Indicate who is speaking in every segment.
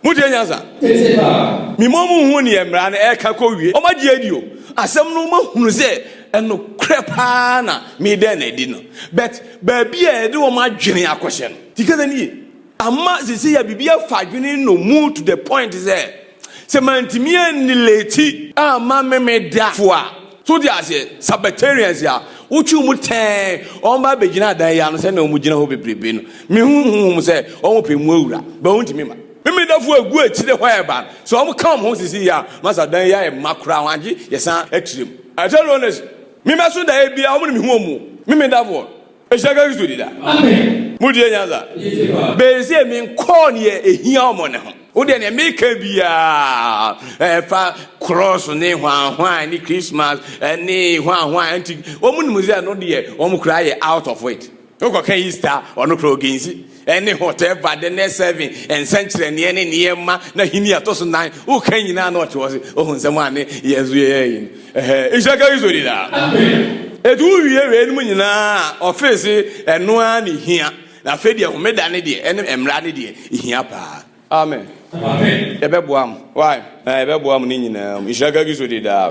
Speaker 1: motie nyansa mema mu hu neɛ mmara no ɛka kɔ wie ɔma gye adi o asɛm no ma hunu sɛ ɛnokorɛ paa na medɛn na adi no but baabi a ɛde wɔn adwene akɔhyɛ no tikɛsɛ nie Ama sesei a biribi afa adwene no mu to the point sɛ, sɛ mantumi anni late a ma me me da fo a, so wote aseɛ? Sabbatarians a wotwe wɔn tɛɛn, wɔba abɛgyina adan yi ano sɛnea wɔgyina hɔ bebrebe no, me hu honhom sɛ wɔpɛ mu awura, but wɔntumi ma me me da fo agu akyire hɔ a ɛba no, sɛ wɔka wɔn ho sesei yi a, ma sɛ adan yi ayɛ ma koraa ho agye yɛsan akyire mu. I tell you honestly, me mɛso daeɛ biara wɔn na me hu wɔn, me me da foɔ no. Ehyia ka Kristo di da. Mo deɛ nyansa. Bɛyɛ sɛ mi nkɔɔ neɛ ehia ɔmo ne ho. Wo deɛ neɛ mi ka biara ɛfa cross ne hwanhwan ne Christmas ɛne hwanhwan nti ɔmo nim sɛ ɛno deɛ ɔmo koraa yɛ out of it. Wokɔ ka Easter ɔno koraa ɔgensi. ne Hotel Vade ne Seven nsɛnkyerɛnneɛ ne nneɛma n'ahenni a ɛtɔ so nan woka nyinaa na ɔte hɔ se ɔhu nsɛm a ne yɛn nso yɛyɛ yi no nhyira ka Kristo di daa ɛti wowie wei nom nyinaa a ɔfee se ɛno ara ne hia na afei deɛ homeda ne deɛ ɛne mmara ne deɛ hia paa Amen. Yɛbɛboa mo. Why? Na yɛbɛboa mo ne nyinaa mu. Nhyira kagi so de daa.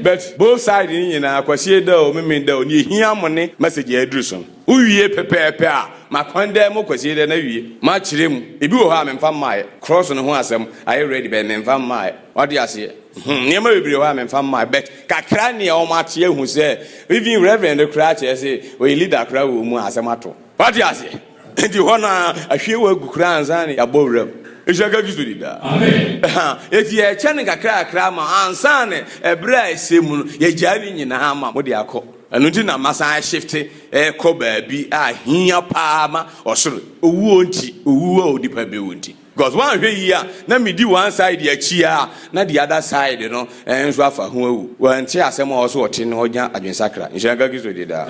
Speaker 1: But both side ne nyinaa kwasie da o meme da o ne ehia mo ne message a aduru so no. Wowie pɛpɛɛpɛ a makwan dɛ mo kwasie dɛ na wie. Makyerɛ mu. Ebi wɔ hɔ a memfa mmaeɛ. Cross no ho asɛm ayɛ ready but memfa mmaeɛ. Wate aseɛ? Hmm, nneɛma bebree wɔ hɔ a memfa mmaeɛ but kakra nea wɔn ate ahu sɛ even reverend no koraa kyerɛ sɛ ɔyɛ leader koraa wɔ mu a asɛm ato. Wate aseɛ? Nti hɔ na ahwie wɔ agu koraa ansa na yɛabɔ wuram. Nhyira nka Kristo di daa. Eti yɛkyɛ no kakrakra ma ansa na ɛberɛ a ɛsɛ mu no yɛgyae ne nyinaa ma mode akɔ. Ɛno nti na masan ahyefte ɛrekɔ baabi a hia paa ma ɔsoro, owuo nti, owuo a onipa bɛwu nti. Because wanhwɛ yie a na me di one side akyi a na the other side no nso afa ho awu. Wante asɛm a ɔse ɔte no ɔnya adwensakra. Nhyira nka Kristo din daa.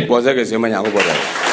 Speaker 1: Bɔ sɛ kɛseɛ ma Nyankopɔn daa.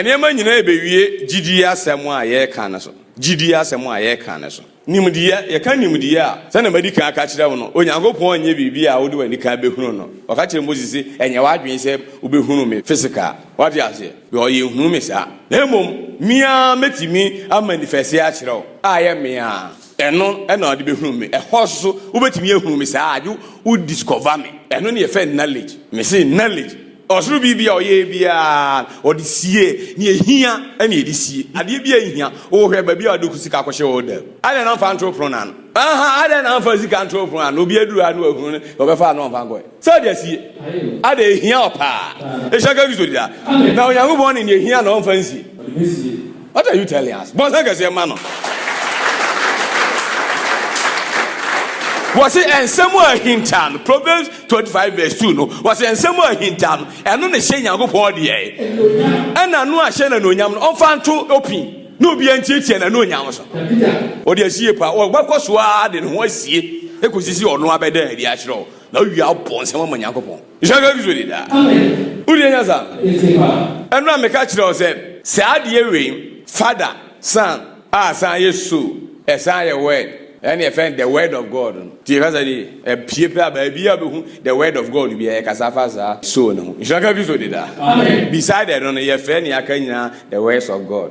Speaker 1: Nneɛma nyinaa ɛbɛwie gyidie asɛm a yɛreka no so. Gyidie asɛm a yɛreka no so. Nimdeɛ, Yɛka nimdeɛ a, sɛnea madi kan aka akyerɛ wo no, Onyankopɔn nyɛ biribi a wode w'ani kan bɛhunu no. Ɔka kyerɛɛ Mose se, Ɛnyɛ w'adwene sɛ wobɛhunu me physical, woate aseɛ, because yɛnhunu me saa, na mmom me ara mɛtumi amanifɛse akyerɛ wo, a ɛyɛ me ara, ɛno na wode bɛhunu me. Ɛhɔ nso, wobɛtumi ahunu me saa a, agye wo discover me. Ɛno na yɛfrɛ no knowledge. Mese knowledge. Ɔsoro biribi a ɔyɛɛ biara ɔde siee nea ehia na ɔde sie adeɛ biara ehia wohwɛ baabi a ɔde sika kɔhyɛ wɔ ɔda mu adɛn na ɔmfa ntoro pono no ano aha adɛn na ɔmfa sika ntoro pono ano obi aduru ha na wahunu no ɔbɛfa ano ɔmfa nkɔɛ sɛ ɔde asie adɛn ehia ɔpaa ehyɛ ka Kristo dida na Onyankopɔn ne nea ehia na ɔmfa nsie What are you telling us? Bɔnsam kɛseɛ ma no. wɔsi nsɛm a ahinta no proverbs twenty five verse two no wɔsi nsɛm a ahinta no ɛno na ɛhyɛ nyankopɔn deɛ ɛna no ahyɛ na n'onyam no ɔnfa nto opin na obi antietie na n'onyam so ɔde asie pa ɔbɛkɔ so ara de ne ho asie ekosisi ɔno abɛda adi akyerɛ o na ɔwia abɔ nsɛm ama nyankopɔn. Nhyira nka Kristo daa. Wodeɛ nya saa? Ɛno na meka kyerɛ wo sɛ saa adeɛ wei Father, Son a san yɛ Soul ɛsan yɛ Word ɛne yɛfrɛ no the Word of God no. Tie kasa no yie. Ɛpue paa baabiara wobɛhu the Word of God biara ɛkasa fa saa Soul no ho. Nhyira nka Kristo daa. Beside ɛno no yɛfrɛ nea aka nyinaa the Words of God.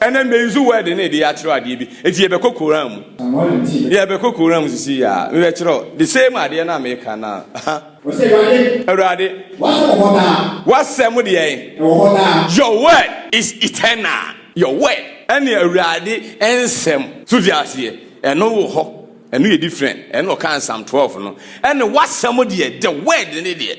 Speaker 1: Ɛnɛ mmɛ yi nso word ne yɛde akyerɛw adeɛ bi eti yɛbɛkɔ Koran mu. Yɛbɛkɔ Koran mu sisi yi a mebɛkyerɛw the same adeɛ no a meka no a. Ɔse Awurade. Awurade. W'asɛm wɔ hɔ daa. W'asɛm deɛ ɛn. Ɛwɔ hɔ daa. Your word is eternal. Your word. Ɛne Awurade nsɛm. So te aseɛ? Ɛno wɔ hɔ. Ɛno yɛ different. Ɛno na ɔkaa in Psalm twelve no. Ɛne w'asɛm deɛ, the word ne deɛ.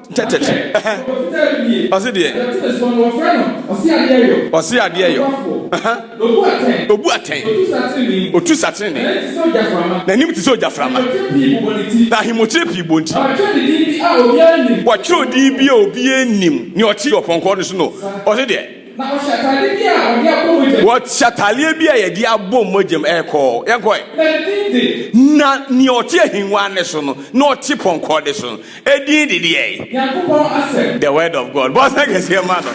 Speaker 1: Tɛtɛtɛ ɛhɛn. Ɔsi deɛ. Ɔsi adeɛ yɔ. Obu atɛn. Otu satenene. N'anim te sɛ ogyaframa. Na ahemmokyerɛ pii bɔ nti. Wɔtwerɛ odin bi a obiara nnim. Nea ɔte ɔpɔnkɔ no so no. Ɔsi deɛ. Wɔhyɛ ataadeɛ bi a yɛde abɔ mmogyam ɛkɔ. Yɛnkɔ ɛ. Na nea ɔte ahengua no so no. Na ɔte pɔnkɔ no so no. Edin de deɛ yi. Nyankopɔn asɛm. The word of God. Bɔ nsɛ kɛseɛ ma no.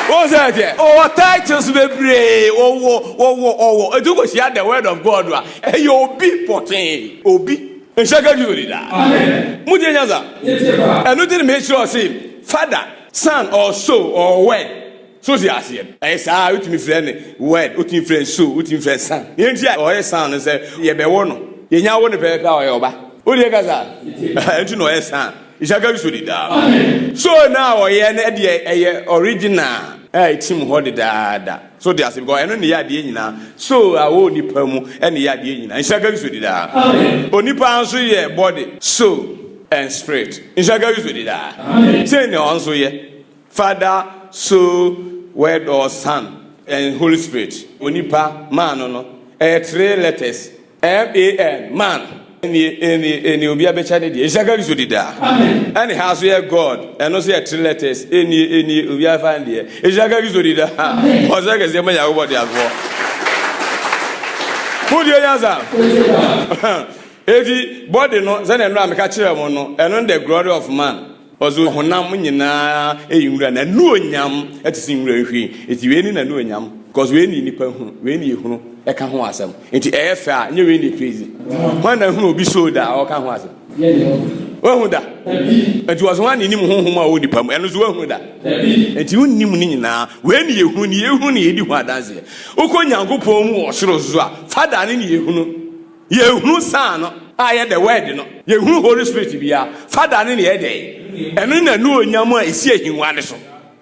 Speaker 1: Wɔn sɛ ɛteɛ. Ɔwɔ titles bebree. Ɔwɔ, ɔwɔ, ɔwɔ. Etu kɔ hyia the word of God a. Ɛyɛ obi pɔtee. Obi. Nhyɛ ka bio ni da. Amen. Mo tie nyansa. Yɛtie paa. Ɛno ti na me kyerɛ ɔse father, son or soul or word. So wote aseɛ no? Ɛyɛ saa, wotumi frɛ no word, wotumi frɛ no soul, wotumi frɛ no sound. Yɛn ti a ɔyɛ sound no sɛ yɛbɛwɔ no, yɛnya wo no pɛpɛpɛ a ɔyɛ ɔba. Wode yɛ kasa? Ɛnti na ɔyɛ sound. Ishaka Kristo di daa. So na ɔyɛ no deɛ ɛyɛ original a ɛtim hɔ dedaada. So wote aseɛ? Because ɛno ne yɛ adeɛ nyinaa. So a wɔ onipa mu ɛne yɛ adeɛ nyinaa. Ishaka Kristo di daa. Onipa nso yɛ body, soul and spirit. Ishaka Kristo di daa. Sɛn na ɔnso yɛ? Father so word or son and holy spirit onipa man no no ɛyɛ three letters man man ɛni ɛni ɛni obi abɛkyɛ ne deɛ ɛhyɛ kari so dida ɛne ha so yɛ god ɛno so yɛ three letters ɛni ɛni obi afa ne deɛ ɛhyɛ kari so dida ɔsɛ kɛseɛ ma nyakobɔ de asoɔ wodie nyansa ɛti body no sɛdeɛ no a meka kyerɛ mo no ɛno the glory of man Ɔdze ɔhonam nyina eyi nwura, n'anuonyam tse dze nwura nhwiren, ntsi wei nye n'anuonyam, cos wei nye nyimpa hu, wei nye ehunu ka ho asɛm, ntsi ɔyɛ fɛ a, nnyɛ wei na epue dze. Hwan na ehun obi show da a ɔka ho asɛm? Woehun da? Ntsi wɔse hwan na inyim honhom a ɔwɔ nyimpa mu, ɛno so woehun da? Ntsi wonnyim ne nyina, wei nye ehunu, nea ehun na yɛdze hu adanse. Wokɔ Nyankopɔn mu wɔ sor so a, Father no na yehunu. Yɛnhunu saa no a ɛyɛ the word no, yɛnhunu Holy Spirit biara, Father no na ɛyɛ dɛn? Ɛno na anuonyam a ɛsi ahengua no so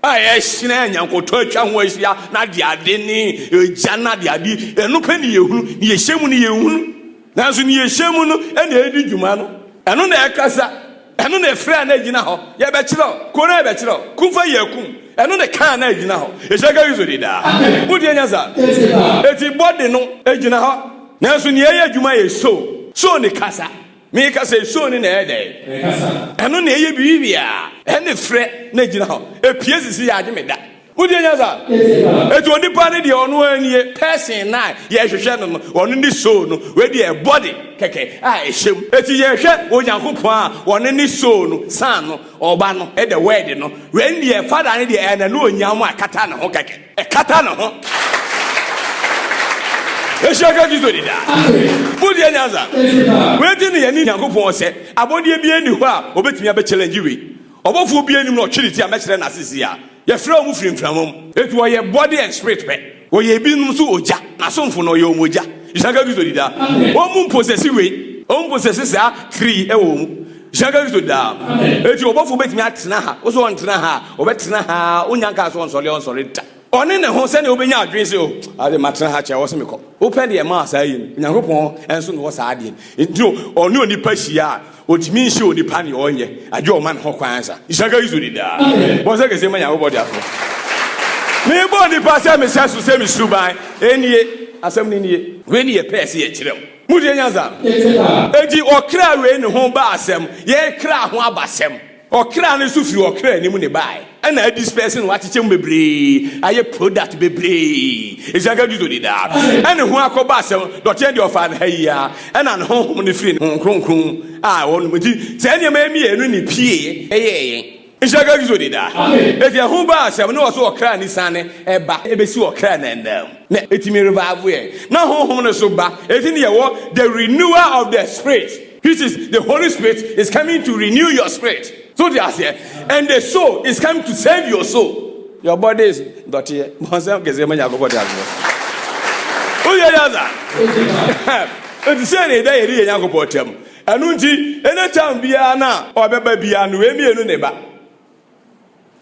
Speaker 1: a ɛhyerɛn a nyankotɔ atwa ho ahyia na adeade ne egya no adeade, ɛno pɛ na yɛhunu, na yɛhyɛ mu no yɛnhunu. Nanso na yɛhyɛ mu no na ɛredi dwuma no, ɛno na ɛkasa Ɛno na ɛfrɛ a na ɛgyina hɔ, Yɛbɛkyerɛ wo, Kuro no a yɛbɛkyerɛ wo, Kumfɔ yɛ akum. Ɛno na ɛka a na ɛgyina hɔ, Ehyɛka Kristo di daa. Mo deɛ nya saa? Eti body no gyina hɔ, nanso nea ɛyɛ adwuma yɛ soul. Soul ne kasa. Me ka sɛ soul no na ɛyɛ dɛn? Ɛkasa. Ɛno na ɛyɛ biribi biara. Ɛne frɛ na ɛgyina hɔ. Epie sisi yɛ agye me da. Wodie nya saa? Eti onipa ne deɛ ɔno ara nie person na yɛhwehwɛ no no ɔno ne soul no wei deɛ body kɛkɛ a ɛhyɛ mu eti yɛhwɛ Onyankopɔn a ɔno ne soul no san no ɔba no ɛdɛ word no wei deɛ father ne deɛ ɛyɛ na ne onyam a ɛkata ne ho kɛkɛ ɛkata ne ho ɛhyɛ ka Kristo di daa wodie nyansa wei ti ne yɛne Onyankopɔn sɛ abɔdeɛ bi ɛni hɔ a ɔbɛtumi abɛkyɛlɛngye wei Ɔbɔfoɔ biara nnim no, ɔtwe ne ti a, mɛkyerɛ n'ase si a, yɛfrɛ wɔn firi mframa mu. Enti wɔyɛ body and spirit pɛ, wɔyɛ ebinom nso ogya, n'asomfo no, ɔyɛ wɔn ogya. Nhyira nka Kristo di daa. Wɔn mu mposɛsi wei, wɔn mu mposɛsi saa kri yi wɔ wɔn mu. Nhyira nka Kristo di daa. Enti ɔbɔfoɔ bɛtumi atena ha, wo sɛ ɔntena ha a, ɔbɛtena ha ara, wonnya nkaa sɛ ɔnsɔre a, ɔnsɔre da. Ɔne ne ho sɛdeɛ wobɛnya adwene sɛ o oh, ade matena ha kyɛ wɔ sɛ mekɔ wopɛ deɛ maa saa yɛ no onyankopɔn nso na wɔ saa adeɛ nti ɔne onipa hyia a ɔtumi nhyɛ onipa neɛ ɔnyɛ agye ɔma ne ho kwan sa isaka yi so de daa bɔ sɛ kɛsɛ ma nyankopɔn de afo mebɔ nipa sɛ mesɛ so sɛ mesuban ɛnie asɛm no nie wei ne yɛpɛɛ sɛ yɛkyerɛ m modeɛ nyansa enti ɔkra wei ne ho ba asɛm yɛkra ho abasɛm Ɔkra no nso firi ɔkra anim na ɛbaeɛ, ɛna adisperse no, wɔakyekyɛ mu bebree ayɛ product bebree, ɛsiane sɛ Kristo de daa ne ho akɔbɔ asɛm, dɔteɛ no deɛ ɔfaa no ha yi ara, ɛna ne Honhom no firii ne Honhom Kronkron a ɛwɔ no mu, enti saa nneɛma yi mmienu na ɛpueeɛ yɛɛ yɛn. Nhyira nka Kristo de daa. Ɛfiri ɛho baa asɛm, na ɔso ɔkra no siane ba bɛsi ɔkra no ananmu, na ɛtumi revive yɛn, na Honhom no nso ba, enti na yɛwɔ the renewal of the Spirit. This is the holy spirit is coming to renew your spirit so te aseɛ and the soul is coming to save your soul your body is dɔteɛ bɔnsɛm kɛseɛ ma nyakopɔ te aseɛ woyɛ yɛ sa ɛti sɛ ne da yɛde yɛ nyakopɔ tam ɛno nti ɛne tam biara no a ɔbɛba biara no wei mmienu ne ba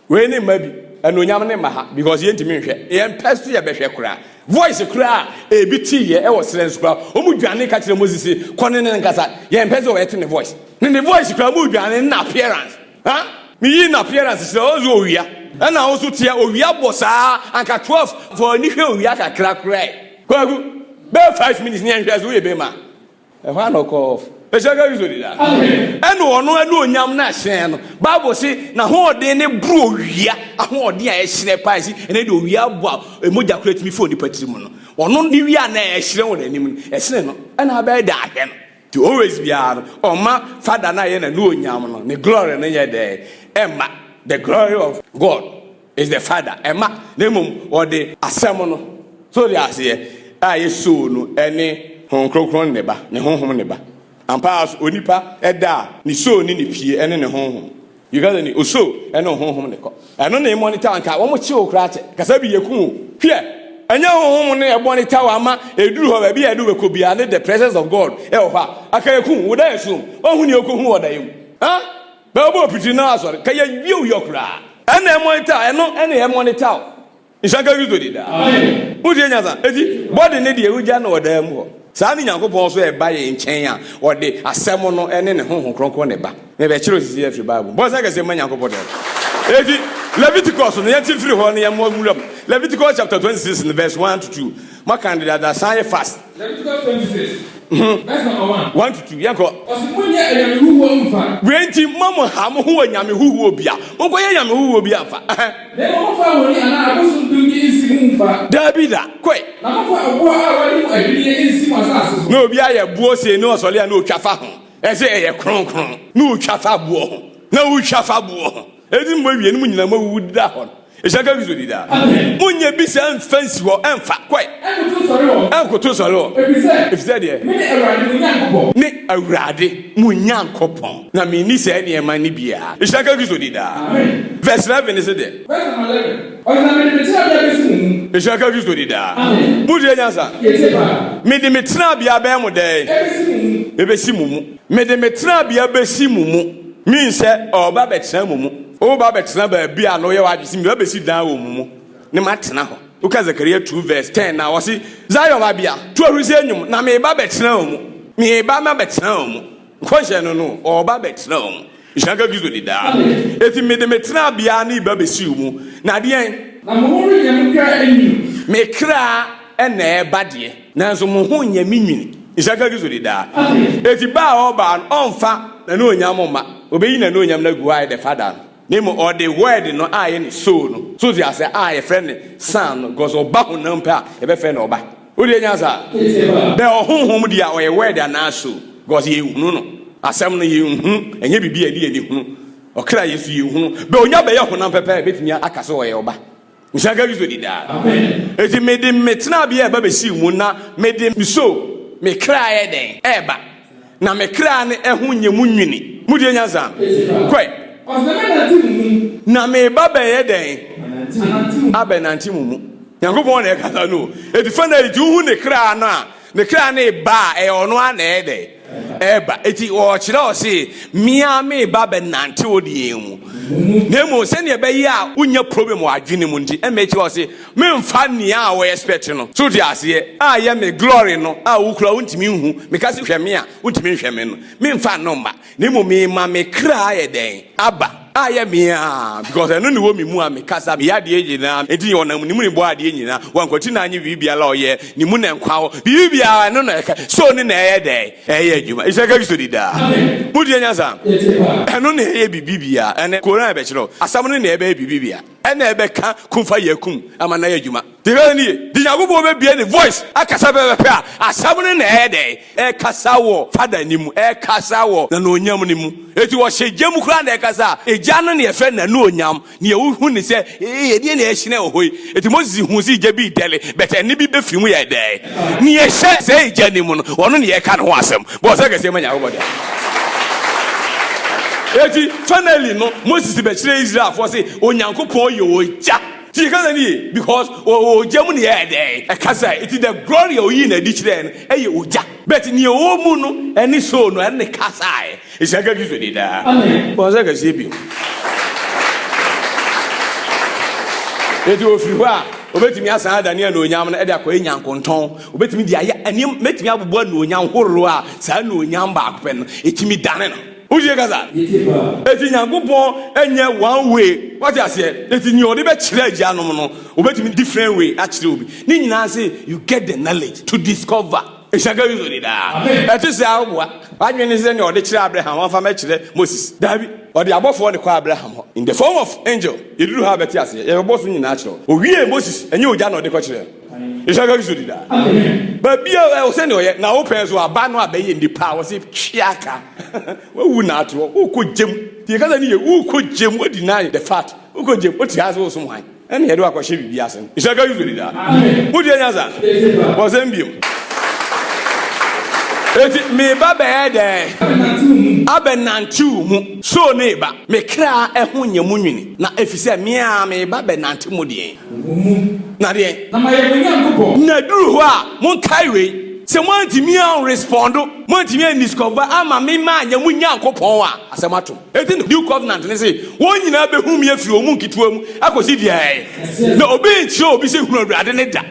Speaker 1: wei ne mma bi anuonyam ne mma ha because yɛntumi nhwɛ yɛn pɛ so yɛbɛhwɛ koraa voice koraa ebi ti yɛ ɛwɔ srɛ nso koraa wɔn dwane ka kyerɛ moses kɔ ne ne nkasa yɛn pɛ so wɔyɛte ne voice ne ne voice koraa wɔn dwane na appearance ha meyi na appearance srɛ ɔwɔ so owia ɛna wɔn so teɛ owia bɔ saa anka twelve fɔ ani hwɛ owia kakra koraa kwagu bɛɛ five minutes ne yɛn hwɛ so yɛ bɛɛ ma. Ɛhɔ ara na ɔkɔɔ off. Ɛhyɛ ka Kristo di da. Ɛna ɔno ɛna onyam na hyerɛn no. Bible se na hoɔden ne boro owia ahoɔden a ɛhyerɛn paa si ɛnɛ de owia bɔ a emogya kura tumi fo nipa tiri mu no. Ɔno ne wia na ɛhyerɛn wɔ n'anim no. Ɛsene no ɛna abɛyɛ da ahwɛ no. Ti always biara no ɔma fada na yɛ na ne onyam no ne glory no yɛ dɛ ɛma the glory of God. is the father ɛma na mmom ɔde asɛm no so de aseɛ a yɛsoo no ɛne Honhom Kronkron ne ba ne Honhom ne ba ampa ara so onipa ɛda a ne soo ne ne pie ɛne ne Honhom you guys ni osoo ɛne Honhom ne kɔ ɛno na ɛmɔ ne tawa nka wɔn kye wo koraa kyɛ kasa bi yɛ ku wo hwɛ ɛnyɛ Honhom ne ɛbɔ ne tawa ama ɛduru hɔ baabi a ɛde wɛkɔ bia ne the presence of God ɛwɔ hɔ a aka yɛ ku wo da yɛ so wɔn ho ne yɛ kɔ hu wɔ da yɛ mu ah Bɛ ɔbɔ piti na asɔre ka yɛ wiɛw yɔ koraa. Ɛna ɛmɔni taw ɛno ɛna ɛmɔni taw nhyira nka Kristo din daa wo deɛ nyansa eti body no deɛ ogya na ɔdaa mu hɔ saa ne Nyankopɔn nso ɛba yɛn nkyɛn a ɔde asɛm no ɛne ne Honhom Kronkron na ɛba me bɛ kyerɛw sisi afiri Bible mu bɔ nsa kɛseɛ mma Nyankopɔn daa mu eti Leviticus no yɛnte firi hɔ na yɛmmɔ nwura mu Leviticus chapter 26 no verse 1 to 2 maka no dada san yɛ fast.
Speaker 2: One to two, yɛnkɔ. Ɔsi
Speaker 1: mo nyɛ ɛnyame
Speaker 2: huhuo nfa. Wei nti mo mo ha
Speaker 1: mo ho wɔ nyame huhuo bia. Mo nkɔ yɛ nyame huhuo bia nfa. Na emu mo fa
Speaker 2: wɔni anaa abosom dum bi nsi mo nfa. Daabi da, koi.
Speaker 1: Na mo fa ɛboɔ
Speaker 2: a wɔde mo adwiniɛ nsi mo asaase so. Na obi ayɛ boɔ
Speaker 1: sei
Speaker 2: na
Speaker 1: ɔsɔle a na otwa fa ho. Ɛse ɛyɛ kronkron. Na otwa fa boɔ ho. Na otwa fa boɔ ho. Edi mu awie no mo nyinaa moawuwu da hɔ no. Ehyia ka Kristo di daa. Monyɛ bi saa mfa nsi hɔ ɛmfa. Kɔe. Ɛnkoto sɔre hɔ. Efisɛ deɛ. Me Awurade mo Nyankopɔn na menni saa nneɛma no biara. Ehyia ka Kristo di daa. Verse eleven no se deɛ.
Speaker 2: Ehyia ka Kristo di daa.
Speaker 1: Motie nyansa. Mede me tenabea bɛyɛ mo dɛn? Ebesi mo mu. Mede me tenabea bɛsi mo mu. Min sɛ ɔreba abɛtena mo mu. Woba abɛtena baabi a na woyɛ w'adwene sɛ meba bɛsi dan wɔ mo mu na matena hɔ. Woka Zekaria two vɛs tɛn no a, ɔse, Zion babea, to ahurisie nnwom, na mereba abɛtena wo mu. Mereba mabɛtena wo mu. Nkɔnhyɛ no no, ɔreba abɛtena wo mu. Nhyira nka Kristo di daa. Enti mede me tenabea no reba abɛsi wo mu, na deɛn? Na mo ho renyɛ mo
Speaker 2: kra anwunu. Me kra
Speaker 1: na ɛreba deɛ? Nanso mo ho nyɛ me nwini. Nhyira nka Kristo de daa. Enti ba a ɔbaa no, ɔmfa n'anuonyam mma, obeyi n'anuonyam no agu hɔ ayɛ dɛ Fada no, na mmom ɔde Word no ayɛ ne Soul no, so te ase, a yɛfrɛ no Son no, because ɔba honam pɛ a, yɛbɛfrɛ no ɔba. Wo deɛ nya saa? Bɛ ɔhonhom deɛ a, ɔyɛ Word anaa Soul? Because yɛnhunu no. Asɛm no, yɛnhunu. Ɛnyɛ biribi a yɛde yɛn ani hunu. Ɔkra Yesu, yɛnhunu. Bɛ ɔnya bɛyɛ honam pɛ pɛ a, yɛbɛtumi aka sɛ ɔyɛ ɔba. Nhyira nka Kristo di daa. Enti mede me tenabea ɛba bɛsii mu, na mede nso me kra yɛ dɛn? Ɛreba. Na me kra no ɛho nyɛ mu nwini. Motie nyansa? Kɔe. Na meba bɛyɛ dɛn? Abɛnante mo mu. Nyankopɔn na ɛkasa no o. Enti fana, enti wohu ne kra no a, ne kra no eba a, ɛyɛ ɔno ara na ɛyɛ dɛn? reba. Enti ɔrekyerɛ wo se, me ara mereba abɛnante wo deɛ mu. Na mmom sɛdeɛ ɛbɛyɛ a wonya problem wɔ adwene mu nti, ɛna ɛkyerɛ wo se, memfa nea a wo expect no. So wote aseɛ? A yɛ me glory no a wokura wontumi nhu, meka se hwɛ me a wontumi nhwɛ me no, memfa no mma. Na mmom mema me kra ayɛ dɛn? Aba. A yɛ me a because ɛno ne wɔ me mu a me kasa meyɛ adeɛ nyinaa nti yɛ ɔnam ne mu ne bɔ adeɛ nyinaa wankwati na anye biribi biara ɔyɛ ne mu na nkwa hɔ biribi biara ɛno na ɛka so ne na ɛyɛ dɛ ɛyɛ adwuma ɛsɛ ka kristo di daa mu deɛ nyasa ɛno na ɛyɛ biribi biara ɛne koran ɛbɛkyerɛ asɛm no na ɛbɛyɛ biribi biara ɛna ɛbɛka kumfa yɛ kum ama na ɛyɛ adwuma Tire nie, nti Nyankopɔn bɛbue ne voice akasa pɛpɛpɛ a, asɛm no na ɛyɛ dɛn? Ɛkasa wɔ Father no mu, ɛkasa wɔ Nanuonyam no mu. Enti wɔhyɛ gya mu koraa na ɛkasa a, egya no na yɛfrɛ no Nanuonyam, nea wohu no sɛ, ee, ɛdeɛn na ɛrehyerɛn wɔ hɔ yi? Enti Moses huu sɛ egya bi redɛle, but ɛnne bi bɛfiri mu yɛɛ dɛn? Nea ɛhyɛ saa egya no mu no, ɔno na yɛreka ne ho asɛm. Bɔ ɔsɛ kɛseɛ ma Nyankopɔn daa. Enti finally no, Moses bɛkyerɛɛ Israelfoɔ sɛ Onyankopɔn yɛ ogya. Ti yɛ kasa no yie because ɔwɔ ogya mu na yɛ dɛ ɛkasa eti the glory a oyii no adi kyerɛɛ no ɛyɛ ogya but nea ɔwɔ mu no ɛne soul no ɛne kasaɛ ehyira nka Kristo din daa bɔ nsa kɛseɛ bio eti ofiri hɔ a obetumi asan adane anuonyam no ɛde akɔyɛ nyankontɔn obetumi de ayɛ ɛne mɛtumi abobo anuonyam horow a saa anuonyam baako pɛ no etumi dane no. wotie kasa eti nyankopɔn nyɛ one way wate aseɛ eti nea ɔde bɛkyerɛ agyanom no obetumi different way akyerɛ obi ne nyinaa se you get the knowledge to discover ehyaka yi sori daa ɛte sɛ aboa wadwene ne sɛ nea ɔde kyerɛ abraham wɔmfa mɛkyerɛ moses daabi ɔde abɔfoɔ ne kɔ abraham hɔ in the form of angel yɛduru ha bɛte aseɛ yɛbɛbɔ so nyinaa kyerɛ owie moses ɛnyɛ ogya na ɔde kɔkyerɛ nhyɛ ka kristo di daa baabi a ɛwɔ sɛ ne ɔyɛ na wo pɛn so aba no abɛyɛ nipa a wɔse twea ka wawu na ate hɔ wokɔ gyam deɛ kasa ne yɛ wokɔ gyam wadi na the fact wokɔ gyam wote ha sɛ wosom han ɛne yɛde wakɔhyɛ biribi ase no nhyɛ ka kristo di daa wodeɛ nya sa wɔsɛm biom eti meba bɛyɛ dɛn abɛnantew mu so ne ba me kra ɛho nyɛ mu nwini na efisɛ mea meba bɛnante mu deɛ Wɔ mu. Na deɛ. Na mayɛ mo Nyankopɔn.
Speaker 2: Na ɛduru hɔ a,
Speaker 1: monkae wei, sɛ moantumi anrespondo, moantumi andiscova amma me manyɛ mo Nyankopɔn a, asɛm ato mo. Enti no, New Covenant no se, Wɔn nyinaa bɛhu me afiri wɔn mu nketewa mu akɔsi deɛ ɛyɛ. Na obi renkyerɛ obi sɛ, 'Hunu Awurade no da.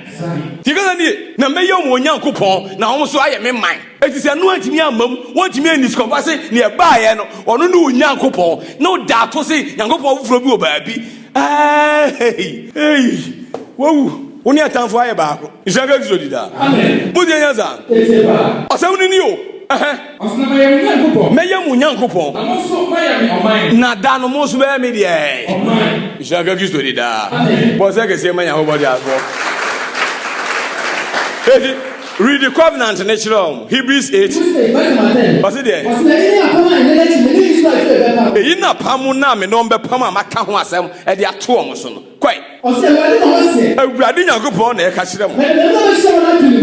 Speaker 1: Deɛ ɛka saa nie, Na mɛyɛ wɔn Nyankopɔn, na wɔn nso ayɛ me man. Enti sɛ ɛno antumi amma mu, wɔantumi andiscova se deɛ ɛbaeɛ no, ɔno ne wɔn Nyankopɔn, na ɔda ato se Nyankopɔn foforɔ bi wɔ baabi, Eeii eeii wawu wo ne atamfo ayɛ baako nhyira nka Kristo di daa mo deɛ nyɛ saa ɔsɛm no ni o ɛhɛ
Speaker 2: mɛyɛ mo Nyankopɔn na da no mo nso bɛyɛ
Speaker 1: me deɛ nhyira
Speaker 2: nka Kristo di
Speaker 1: daa bɔ nsɛ kɛseɛ ma Nyankopɔn de asoɔ eti Read the Covenant ne kyerɛ wɔn, Hebrews eight, ɔse deɛn? Eyi ne apam no a me ne wɔn bɛpam a maka ho asɛm de ato wɔn so no. Kɔe. Awurade Nyankopɔn na ɛka kyerɛ mo.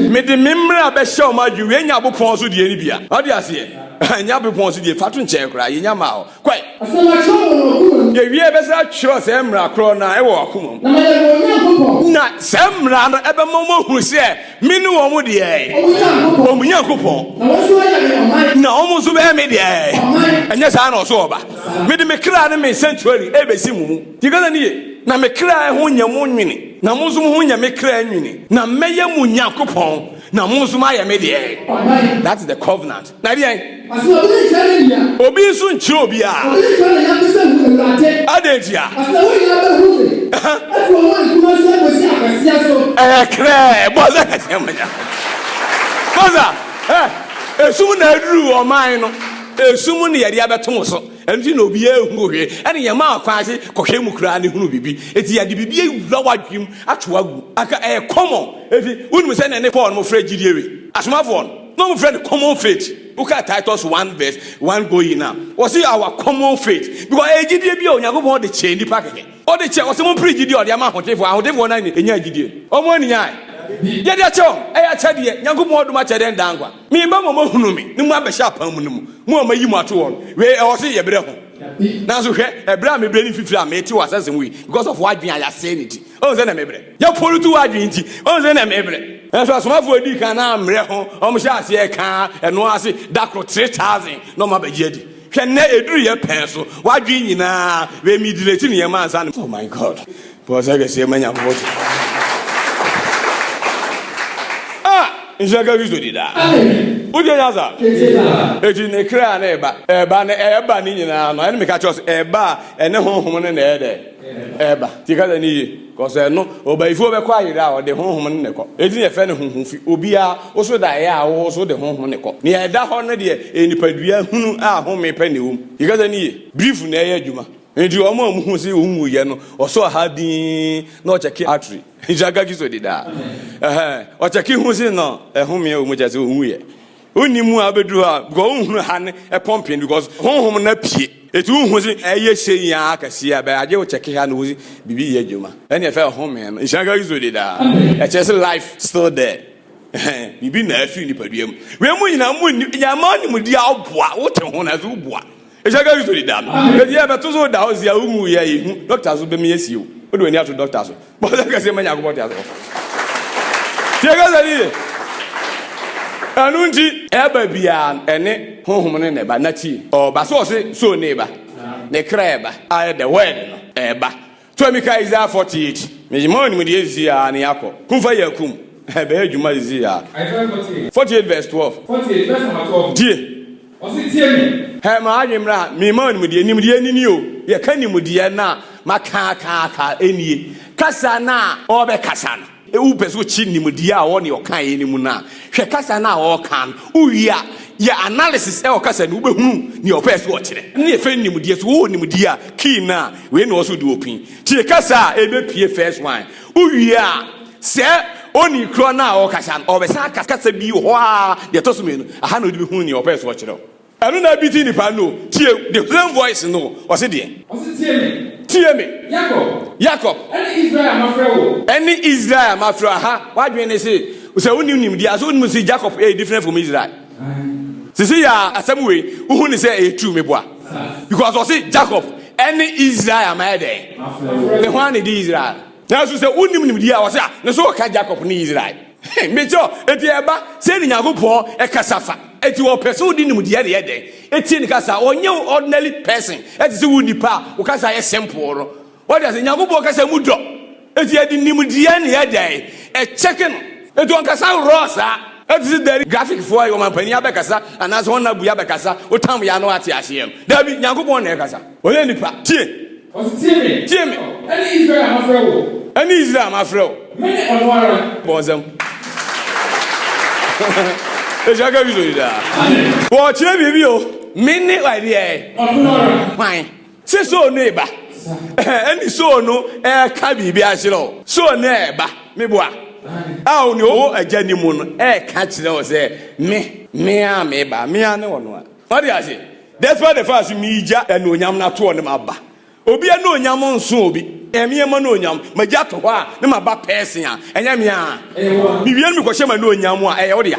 Speaker 1: Mede me mmara bɛhyɛ wɔn adwene. Wei nyɛ abopɔn so deɛ no bia. Ɔde aseɛ? Ɛnyɛ abopɔn so deɛ, fa to nkyɛn koraa, yɛnya maa hɔ. Kwae. Afei makyerɛw wɔ wɔn akoma mu. Yɛwiee bɛsan akyerɛw saa mmara korɔ no ara wɔ wɔn akoma mu. Na mayɛ wɔn Nyankopɔn. Na saa mmara no bɛma wɔahunu sɛ me ne wɔn deɛ. Wɔn Nyankopɔn. Wɔn Nyankopɔn. Na wɔn nso ayɛ me ɔman. Na wɔn nso bɛyɛ me deɛ. Ɔman. Ɛnyɛ saa na ɔso ɔba. Mede me kra ne me sanctuary rebɛsi mo mu. Deɛ ɛka sɛ ne ye. Na me kra ho nyɛ mo nwene, na mo nso mo ho nyɛ me kra nwene, na mɛyɛ mo Nyankopɔn, na mo nso moayɛ me deɛ. Ɔman. That is the covenant. Na deɛn? Obi nso nkyerɛ obiara. Adɛn ntia? Ɛyɛ krɛɛ bɔ sɛ kɛseɛ mo nya. Kɔsa ɛ esum na aduru ɔman no esum ne yɛde abɛto mo so ɛnti na obiara ehunu hwee ɛne yɛn maa kwan ase kɔhwɛ mu koraa ne hunu biribi eti yɛde biribi ewura wadwim ato agu aka ɛyɛ kɔmɔ eti wonim sɛ na ne pɔl no mo frɛ gyidie wi asomafoɔ no. Na wɔn frɛ no common faith. Woka Titus one verse one go in a, wɔsi our common faith because ɛyɛ gyidie bi a Onyankopɔn de kyɛ nipa kɛkɛ. Ɔde kyɛ wɔsi mo mpere gyidie a ɔde ama ahotefoɔ. Ahotefoɔ na enyaa gyidie. Wɔn anyaa ɛ. Deɛ ɛde akyɛ wɔn ɛyɛ akyɛdeɛ. Nyankopɔn dom akyɛdeɛ ne daa nkwa. Me ba mo a mo ahunu me ne mo abɛhyɛ apam mu no mu, mo a mo ayi mo ato hɔ no, wei ɛwɔ se yɛbrɛ ho. Nanso hwɛ, ɛbrɛ a mebrɛ ne mfifire a mete wɔ asase mu yi because of w'adwene a yɛasɛe no nti. Wohu sɛdeɛ mebrɛ? Yɛforo tu w'adwene nti, wohu sɛ na mebrɛ. Nanso asomafoɔ a ɛdii kan no ammrɛ ho, wɔhyɛɛ aseɛ kaa ɛno ara se, Da koro, three thousand na wɔabɛgye adi. Hwɛ nnɛ, ɛduru yɛ pɛɛ so, w'adwene nyinaa bɛyɛ middle-aged nneɛma ansa na. Oh my God! Bɔ ɔsa kɛseɛ ma Nyankopɔn te. Ah! Nhyira nka Kristo di daa. Wotie nya saa? Enti ne kra na ɛba, ɛba, na ɛba ne nyinaa no, ɛne meka kyerɛ wo sɛ, ɛba a, ɛne honhom no na ɛyɛ dɛn? Ɛba. Tie kasa no yie. Cause ɛno ɔbayifuo bɛkɔ ayere a ɔde honhom no na ɛkɔ enti na yɛfrɛ no honhom fi obiara wo so da ɛyɛ a wo nso wode honhom no kɔ nea ɛda hɔ no deɛ ɛyɛ nipadua hunu a home pɛ na ɛwɔ mu yɛ kasa no yie brief na ɛyɛ adwuma enti wɔn a wɔhu sɛ wɔn wuyɛ no ɔsɔ ɔha dinn na ɔkyɛke artery nhyira nka kiso di daa ɛhɛn ɔkyɛke hu se no ɛhome wɔ mu kyɛ sɛ wɔn wuyɛ Wonni mu a wobeduru hɔ a because wonhunu ha ne ɛpɔmpen because honhom no apue. Eti wohu se ɛyɛ sei aa kɛseɛ a but agye wo kyɛke ha na wo biribi yɛ adwuma. Ɛne ɛfɛ home no. Nhyira nka Kristo din daa. Ɛkyerɛ se life still there. Biribi na afiri nipadua mu. Wei mu nyinaa munni, yɛmma nimdeɛ a woboa, wote ho nanso woboa. Ehyɛ ka Kristo di da no. Enti yɛbɛto so da hɔ si a wuhu yɛ yi hu dɔkta so bɛmi asi o. Wode w'ani ato dɔkta so. Bɔ ɔsɛ kɛse ma Nyankopɔn te ase wɔ. Tie kasa no yie. Ɛno nti. Ɛba biara no, ɛne Honhom no na ɛba. Na tie. Ɔba so ɔse, so ne ba. Ne kra ɛba. Ayɛ the word no ɛba. Tɔ mi ka Isaiah 48. Me ma wo nimdeɛ sisi aa ne yɛakɔ. Kum fa yɛ akum. Ɛbɛyɛ adwuma sisi aa. Isaiah 48. 48 vs 12. 48 vs number 12 no. Tie. Ɔse tie me. Hɛ ma adwene mmra ha. Me ma wo nimdeɛ. Nimdeɛ ne nie o. Yɛka nimdeɛ no a, ma kaa kaa kaa nie. Kasa no a ɔɔbɛ kasa no. Wopɛ sɛ wokyi nimdeɛ a ɔwɔ ne ɔkaeɛ no mu no a, hwɛ kasa no a ɔreka no. Wowie a, yɛ analysis wɔ kasa no mu, wobɛhunu nea ɔpɛɛ sɛ ɔkyerɛ. Ne yɛfɛ no nimdeɛ, so wowɔ nimdeɛ a, key no a wei na ɔwɔ sɛ wode open. Tie kasa a ɛbɛpue first one. Wowie a, sɛ ɔni korɔ no a ɔrekasa no, ɔbɛsan akasa kasa bi wɔ hɔ ara, deɛ ɛtɔ so mmienu, aha na wode bɛhunu nea ɔpɛɛ sɛ ɔkyerɛ wo. Ɛno na ɛbiti nnipa no. Tie, the same voice no, ɔse deɛ. Ɔse tie me. Tie me. Yakob. Yakob. Ɛne Israel a mafrɛ wo. Ɛne Israel a mafrɛ wo. Aha, w'adwene ne se, sɛ wonim nimdeɛ a, so wonim se Jakob ɛyɛ different from Israel? Sisi yɛ a, asɛm wei, wohu ne sɛ ɛyɛ true, meboa. Because ɔse Jakob ɛne Israel a mayɛ dɛn? Ne ho a na ɛdi Israel. Nanso sɛ wonim nimdeɛ a, ɔse a, ne so ɔka Jakob ne Israel. Mese ɔ, enti ɛba sɛn na Nyankopɔn kasa fa? Enti ɔpɛ sɛ wode nimdeɛ na ɛyɛ dɛn? Etie ne kasa. Ɔnyɛ wo ordinary person, ɛte sɛ wo nipa a wo kasa yɛ simple no. Wate ase? Nyankopɔn kasa mu dɔ. Enti ɛde nimdeɛ na ɛyɛ dɛn? Ɛkyɛke no. Enti ɔnkasa raw saa. Ɛte sɛ dɛn? Graphic foɔ, ɔmampanin abɛkasa anaasɛ ɔnna bui abɛkasa, wotam yɛ a na wate aseɛ no. Daabi, Nyankopɔn na ɛkasa. Ɔyɛ nipa. Tie. Ɔse, Tie me. Tie me. Ɛne Israel
Speaker 2: a mafrɛ wo. Ɛne Israel a mafrɛ
Speaker 1: wo. Mene ɔno ara.
Speaker 2: Bɔ nsam.
Speaker 1: Ehyia ka bi so yi daa. Amen. Wɔkyerɛ biribi o. Mene wadeɛ. Ɔno ara. Hwan? Se soo no eba. Ɛne soo no ɛka biribi akyerɛ o. Soo no ɛba. Meboa. A o ne ɔwɔ agya ni mu no ɛka kyerɛ o sɛ me. Me a meba. Me a ne ɔno ara. Wate ase? Despite the fact sɛ meegya anuonyam no atoɔ ne maba. Obi anuonyam nso obi. Ɛmeɛ m'anuonyam. Magya to hɔ a ne maba pɛɛsen a, ɛnyɛ me a. Mewie no mekɔhyɛ m'anuonyam mu a, ɛyɛ wo dea.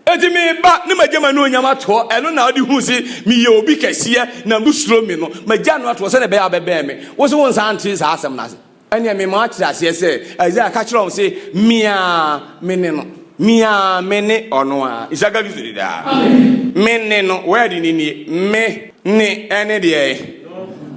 Speaker 1: Enti meba ne magya m'anuonyam atoɔ, ɛno na wode hu se meyɛ obi kɛseɛ na wosuro me no. Magya no atoɔ sɛdeɛ ɛbɛyɛ a wobɛbɛn me. Wo se wonsan ntee saa asɛm no ase? Ɛnneɛ mema woate aseɛ sɛ, Isaiah ka kyerɛɛ wɔn se, Me ara mene no. Me ara mene ɔno ara. Isaka Kristo de daa. Me ne no, word no nie. Me ne ɛne deɛ?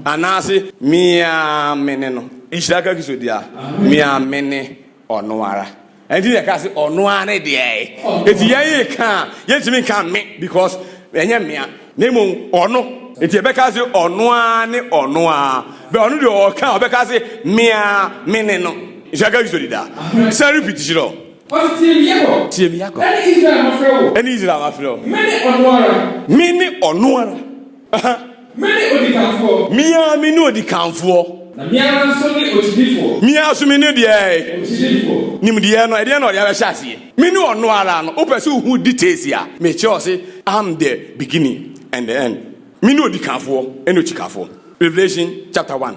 Speaker 1: Anaase, Me ara mene no. Isaka Kristo de daa. Me ara mene Ɔno ara. Ɛnti yɛ ka se ɔno ara ne deɛ ɛɛ. Ɛti yɛn yɛ ka a yɛn tumi nka me because ɛnyɛ me a na mmom ɔno. Ɛti yɛ bɛ ka se ɔno ara ne ɔno ara but ɔno deɛ ɔka a ɔbɛ ka se me ara me ne no. Nhyira ka Kristo dida. San repeat hyira o. Ɔse tie me Yakob. Tie me Yakob. Ɛne Israel mafrɛ wo. Ɛne Israel mafrɛ wo. Me ne ɔno ara. Me ne ɔno ara. Mene
Speaker 2: odikanfoɔ. Me ara me ne
Speaker 1: odikanfoɔ. Na me ara nso ne
Speaker 2: okyidifoɔ. Me ara nso me ne deɛ.
Speaker 1: Okyidifoɔ. Nimdeɛ no, ɛdeɛ na ɔde abɛhyɛ aseɛ. Me ne ɔno ara no. Wopɛ sɛ wohu details a, mekyerɛ wo se, I'm the beginning and the end. Me ne odikanfoɔ ne okyikafoɔ. Revelation chapter one.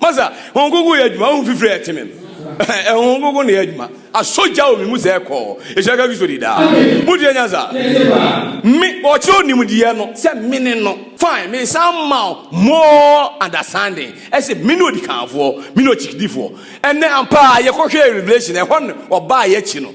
Speaker 1: Masa, Honhom Kronkron yɛ adwuma, honhom fifiri a ɛte me no, Honhom Kronkron na yɛ adwuma, asɔ gya wɔ me mu sɛ ɛkɔ, ɛhyira ka Kristo di daa. Motie nyansa? Me, ɔkyerɛ onimdeɛ no sɛ mene no. Fine, mesan ma wo more understanding, ɛse mene odikanfoɔ, mene ɔkyikdifoɔ. Ɛnnɛ, ampa ara, yɛkɔhwɛɛ Revelation, ɛhɔ no, ɔbaa yɛn akyi no,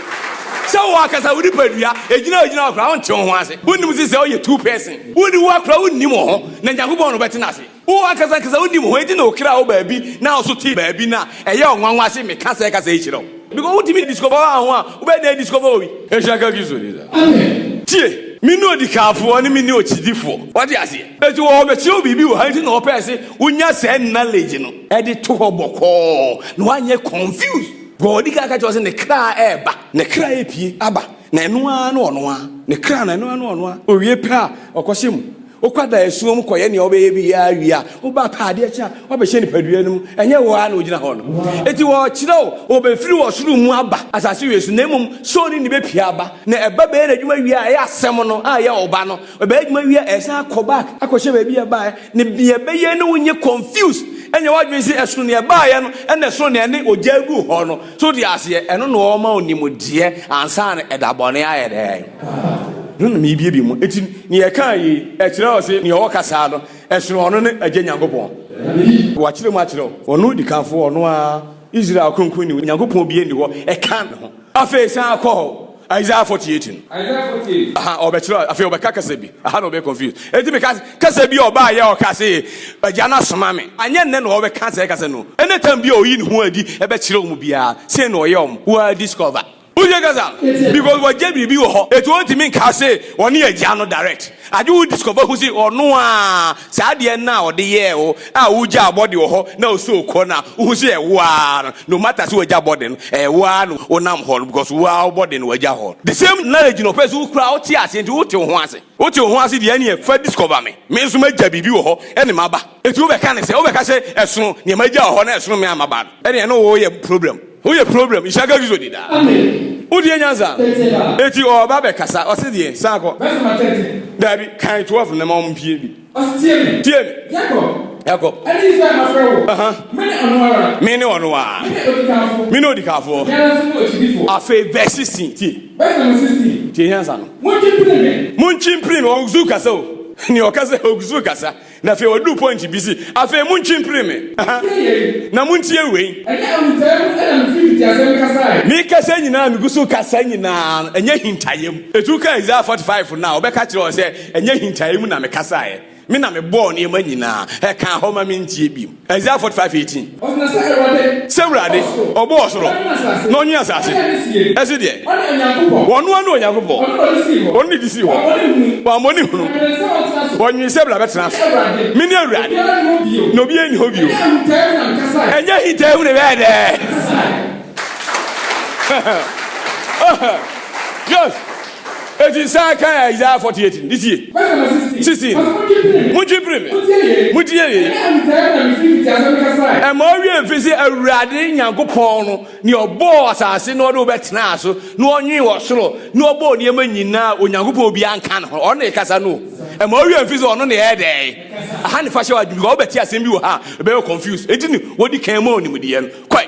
Speaker 1: Sɛ wo ankasa wo nipadua egyina ogyina hɔ koraa wonte wo ho ase. Wonnim sɛ sɛ woyɛ two person, wonni wo a koraa wonnim wo ho na Nyankopɔn na ɔbɛte no ase. Wo ankasa ankasa wonnim wo ho enti na wo kra wɔ baabi na wo so te baabi na ɛyɛ ɔnwanwa se meka sɛɛ kasa yi kyerɛ wo. Because wontumi discover wo ho a wobɛyɛ dɛn discover obi? Nhyira nka Kristo din daa. Tie!
Speaker 2: Mene
Speaker 1: odikanfoɔ ne mene okyidifoɔ. Wate aseɛ? Enti wɔ ɔbɛkyerɛ wo biribi wɔ ha enti na ɔpɛɛ se wonya saa knowledge no de to hɔ bɔkɔɔ na woanyɛ confused. Deɛ ɔdi kan ka kyerɛ sɛ ne kra ɛreba. Ne kra ɛrepie aba. Na ɛno ara ne ɔno ara. Ne kra no ɛno ara ne ɔno ara. Ɔwie pɛ a, ɔkɔhyɛ mu. Wokɔda asuo mu kɔyɛ nea wobɛyɛ biara wie a, woba pɛ a, adeɛ kye a, woabɛhyɛ nipadua no mu. Ɛnyɛ wo ara na wogyina hɔ no. Enti wɔrekyerɛ wo, ɔbɛfiri ɔsoro mu aba asase wei so, na mmom soul no na ɛbɛpue aba. Na ɛba bɛyɛ n'adwuma wie a, ɛyɛ Asɛm no a ɛyɛ Ɔba no Ɔbɛyɛ adwuma wie a, ɛsan kɔ back akɔhyɛ baabi a ɛbaeɛ. Ne deɛ ɛbɛyɛ ne wonyɛ confuse ɛnyɛ w'adwene sɛ ɛsono deɛ ɛbaeɛ no ɛna ɛsono deɛ ɛne ogya agu hɔ no. So te aseɛ? Ɛno na ɔma wo nimdeɛ ansa na ɛda bɔne ayɛ dɛn? Ɛno na merebiebie mu. Enti nea ɛkaa yei ɛkyerɛ wo sɛ nea ɔka saa no ɛsono ɔno ne Agya Nyankopɔn? Wɔakyerɛ mu akyerɛ wo. Ɔno dikanfoɔ, ɔno ara Israel Kronkronni, Onyankopɔn biara nni hɔ ɛka ne ho. Afei san kɔ Isaiah 48 no. Isaiah 48. Aha, ɔbɛkyerɛ, afei ɔbɛka kasa bi. Aha na ɔbɛyɛ confused. Enti meka kasa bi a ɔbaa yɛ ɔka se, Agya no asoma me. Anyɛ nnɛ na ɔbɛka saa kasa no. Any time bi a ɔyi ne ho adi bɛkyerɛ wɔn biara, sei na ɔyɛ wɔn. Wo ara discover. Wotie kasa? Because wagye biribi wɔ hɔ, enti ɔntumi nka se ɔne Agya no direct. Adwe wo disko bɛhu se ɔno aa saa adeɛ no a ɔde yɛɛ wo a wo gyaa body wɔ hɔ na wo soul kɔ no a wohu se ɛyɛ wo aa no no matter se wagya body no ɛyɛ wo aa na wo nam hɔ no because wo aa wo body na wagya hɔ the same knowledge na ɔpɛ se wo kura wo te aseɛ nti wo te wo ho ase wo te wo ho ase deɛ ɛneɛ fa disko ba me me nso magya biribi wɔ hɔ ɛne maba enti wo bɛka ne sɛ wo bɛka se ɛsono neɛ magya wɔ hɔ na ɛsono me a maba no ɛneɛ ɛne wo yɛ problem. Woyɛ problem nhyɛ ka Jesus di da. Wodie nyansa eti ɔba bɛ kasa ɔse deɛ san kɔ dabi kan 12 ne ma ɔmo pie bi tie me Jacob ɛne Israel ma frɛ wo uh-huh. mene ɔno ara mene ɔno ara mene odikafoɔ afei vɛ 16 tie tie nyansa no monkyi mpiri me ɔgusu kasa o ne ɔkasa ɔgusu kasa Na afei ɔduu pɔinte bi se, Afei montwe mpire me. Aha! Na montie wei. Ɛnyɛ ahuntayɛ mu na mifii mfitiaseɛ mekasae. Mekasa nyinaa a migu so kasa nyinaa no, ɛnyɛ ahintaeɛ mu. Etu ka Isaiah forty five no a, wɔbɛka kyerɛ wo sɛ, Ɛnyɛ ahintaeɛ mu na mekasaeɛ. Me na mebɔɔ nneɛma nyinaa. Ɛkaa hɔ ma mentie bio. Isaiah 45 18. Sɛ Awurade, ɔbɔ ɔsoro na ɔnye asase, ɛse deɛ, ɔno ara ne Onyankopɔn, ɔno ne de sii hɔ, wammɔ ne hunu, ɔnwee sɛ bla bɛtena ase. Mene Awurade, na obiara nni hɔ bio. Ɛnyɛ ahintaahu ne bɛyɛ dɛ. Yes. Enti saa kan a Isaiah 48 no, ne sie. Sixteen, Muntwe mpire me, muntie yei. Ɛma owie mfe sɛ Awurade Nyankopɔn no, nea ɔbɔɔ asase na ɔde wo bɛtenaa so, na ɔnwen wɔ soro, na ɔbɔɔ nneɛma nyinaa, Onyankopɔn obiara nka ne ho, ɔno na ɛkasa no. Ɛma owie mfe sɛ ɔno na ɛyɛ dɛn. Aha ne fa hyɛ w'adwene, because wobɛte asɛm bi wɔ ha a, ɛbɛyɛ confuse. Enti ne wɔdi kan mu a ɔnimdeɛ no kɔe.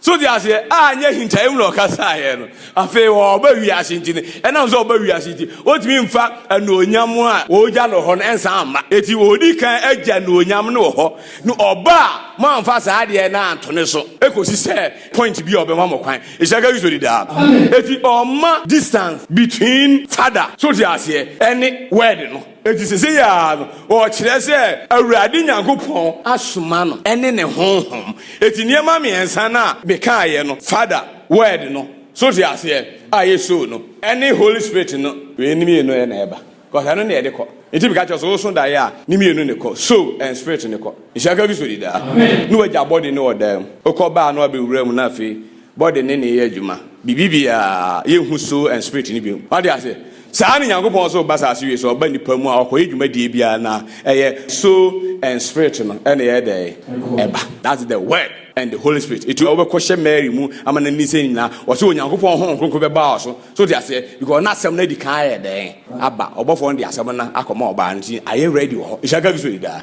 Speaker 1: So te aseɛ? Anyɛ ahintaeɛ mu na ɔkasaeɛ no. Afei ɔba wiase nti no, ɛnam sɛ ɔba wiase nti, ɔtumi mfa anuonyam a ɔgya no hɔ no nsan mma. Eti ɔdi kan agya anuonyam no wɔ hɔ, na ɔba a, moamfa saa adeɛ no anto ne so kɔsi sɛ point bi a ɔbɛma mo kwan. Nhyira nka Kristo dedaa no. Eti ɔmma distance between Father, so te aseɛ, ɛne Word no. Enti seesei ara no, ɔkyerɛ sɛ Awurade Nyankopɔn asoma no ne ne Honhom. Enti nneɛma mmiɛnsa no a mekaeɛ no, Father, Word no, so wote aseɛ, a yɛ Soul no, ne Holy Spirit no, wei ne mmienu na ɛba, cause ɛno na ɛde kɔ. Enti meka kyerɛ wo sɛ, woso daeɛ a, ne mmienu na ɛkɔ, Soul and Spirit no kɔ. Nhyira nka Kristo di daa. Na wagya body no wɔ dan mu, wokɔ baa na wabɛwura mu na afei, Body ne ne yɛ adwuma. Biribi biara, yɛ nhu soul and spirit no bio. Wate ase? Saa ne Nyankopɔn nso reba saase wie so, ɔba nipa mu a ɔkɔ yɛ dwumadie biara na ɛyɛ soul and spirit no ɛna ɛyɛ dɛn? Ɛba. That's the word and the Holy Spirit. Etu a wobɛkɔ hyɛ Mary mu ama no ani sɛ nyinaa, ɔse Onyankopɔn Honhom Kronkron bɛba wo so So te aseɛ? Because na asɛm no adi kan ayɛ dɛn aba. Ɔbɔfoɔ no de asɛm no akɔma ɔbaa no nti ayɛ ready wɔ hɔ. Nhyira ka Kristo di daa.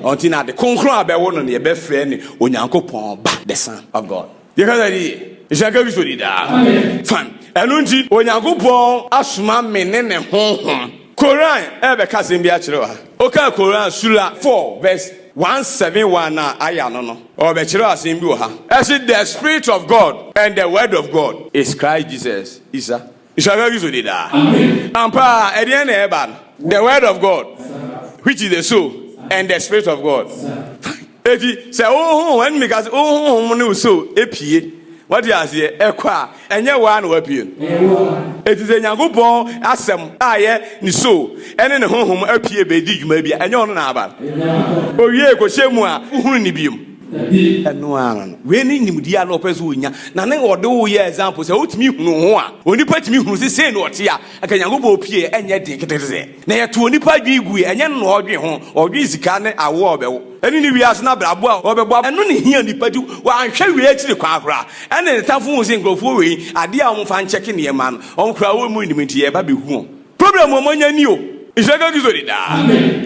Speaker 1: Ɔnti na ade kronkron a bɛwo no no yɛbɛfrɛ ne Onyankopɔn ba, the son of God. Yɛkasa ni yie. Nhyira ka Kristo di daa. Fine. Ɛno nti Onyankopɔn asoma me ne ne honhom. Koran ɛbɛka asɛm bi akyerɛ wɔ ha. Wokaa Koran sura 4 verse. Wɔansɛme wɔn a ayɛ ano no. Ɔrebɛkyerɛw asɛm bi wɔ ha. Ɛse the spirit of God and the word of God is Christ Jesus, Isa, Nhyira Kristo di daa. Ampa ara, ɛdeɛn na ɛreba no? The word of God, which is the soul, and the spirit of God. Eti sɛ wo honhom, ɛne meka sɛ wo honhom ne wo soul epie, wate aseɛ, ɛkɔ a, Ɛnyɛ wo ara na woapue no. Efisɛ Nyankopɔn Asɛm a ɛyɛ ne Soul ne ne Honhom apue bedi dwuma bi a ɛnyɛ ɔno na aba no. Owiei kɔhyɛ mu a, wohunu no bio. Ɛno ara no. Wei ne nimdeɛ a na ɔpɛ sɛ onya, na na ɔde wo yɛ example sɛ wotumi hunu ho a, onipa tumi hunu sɛ sei na ɔte a, anka Nyankopɔn pue a ɛnyɛ den ketekete sɛɛ. Na yɛtoo onipa adwene gui, ɛnyɛ no na ɔredwen ho, ɔredwen sika ne awoɔ a ɔbɛwo, ɛne ne wiase no abrabɔ a ɔbɛbɔ aba, ɛno na ɛhia onipa nti wanhwɛ wei akyiri kwan koraa, ɛna ne tamfo huu sɛ nkurɔfoɔ wei adeɛ a wɔmfa nkyɛke nneɛma no wɔn koraa wɔmmu nnim nti yɛreba abɛhu wɔn. Problem a wɔanya ni o. Nhyira nka Kristo din daa.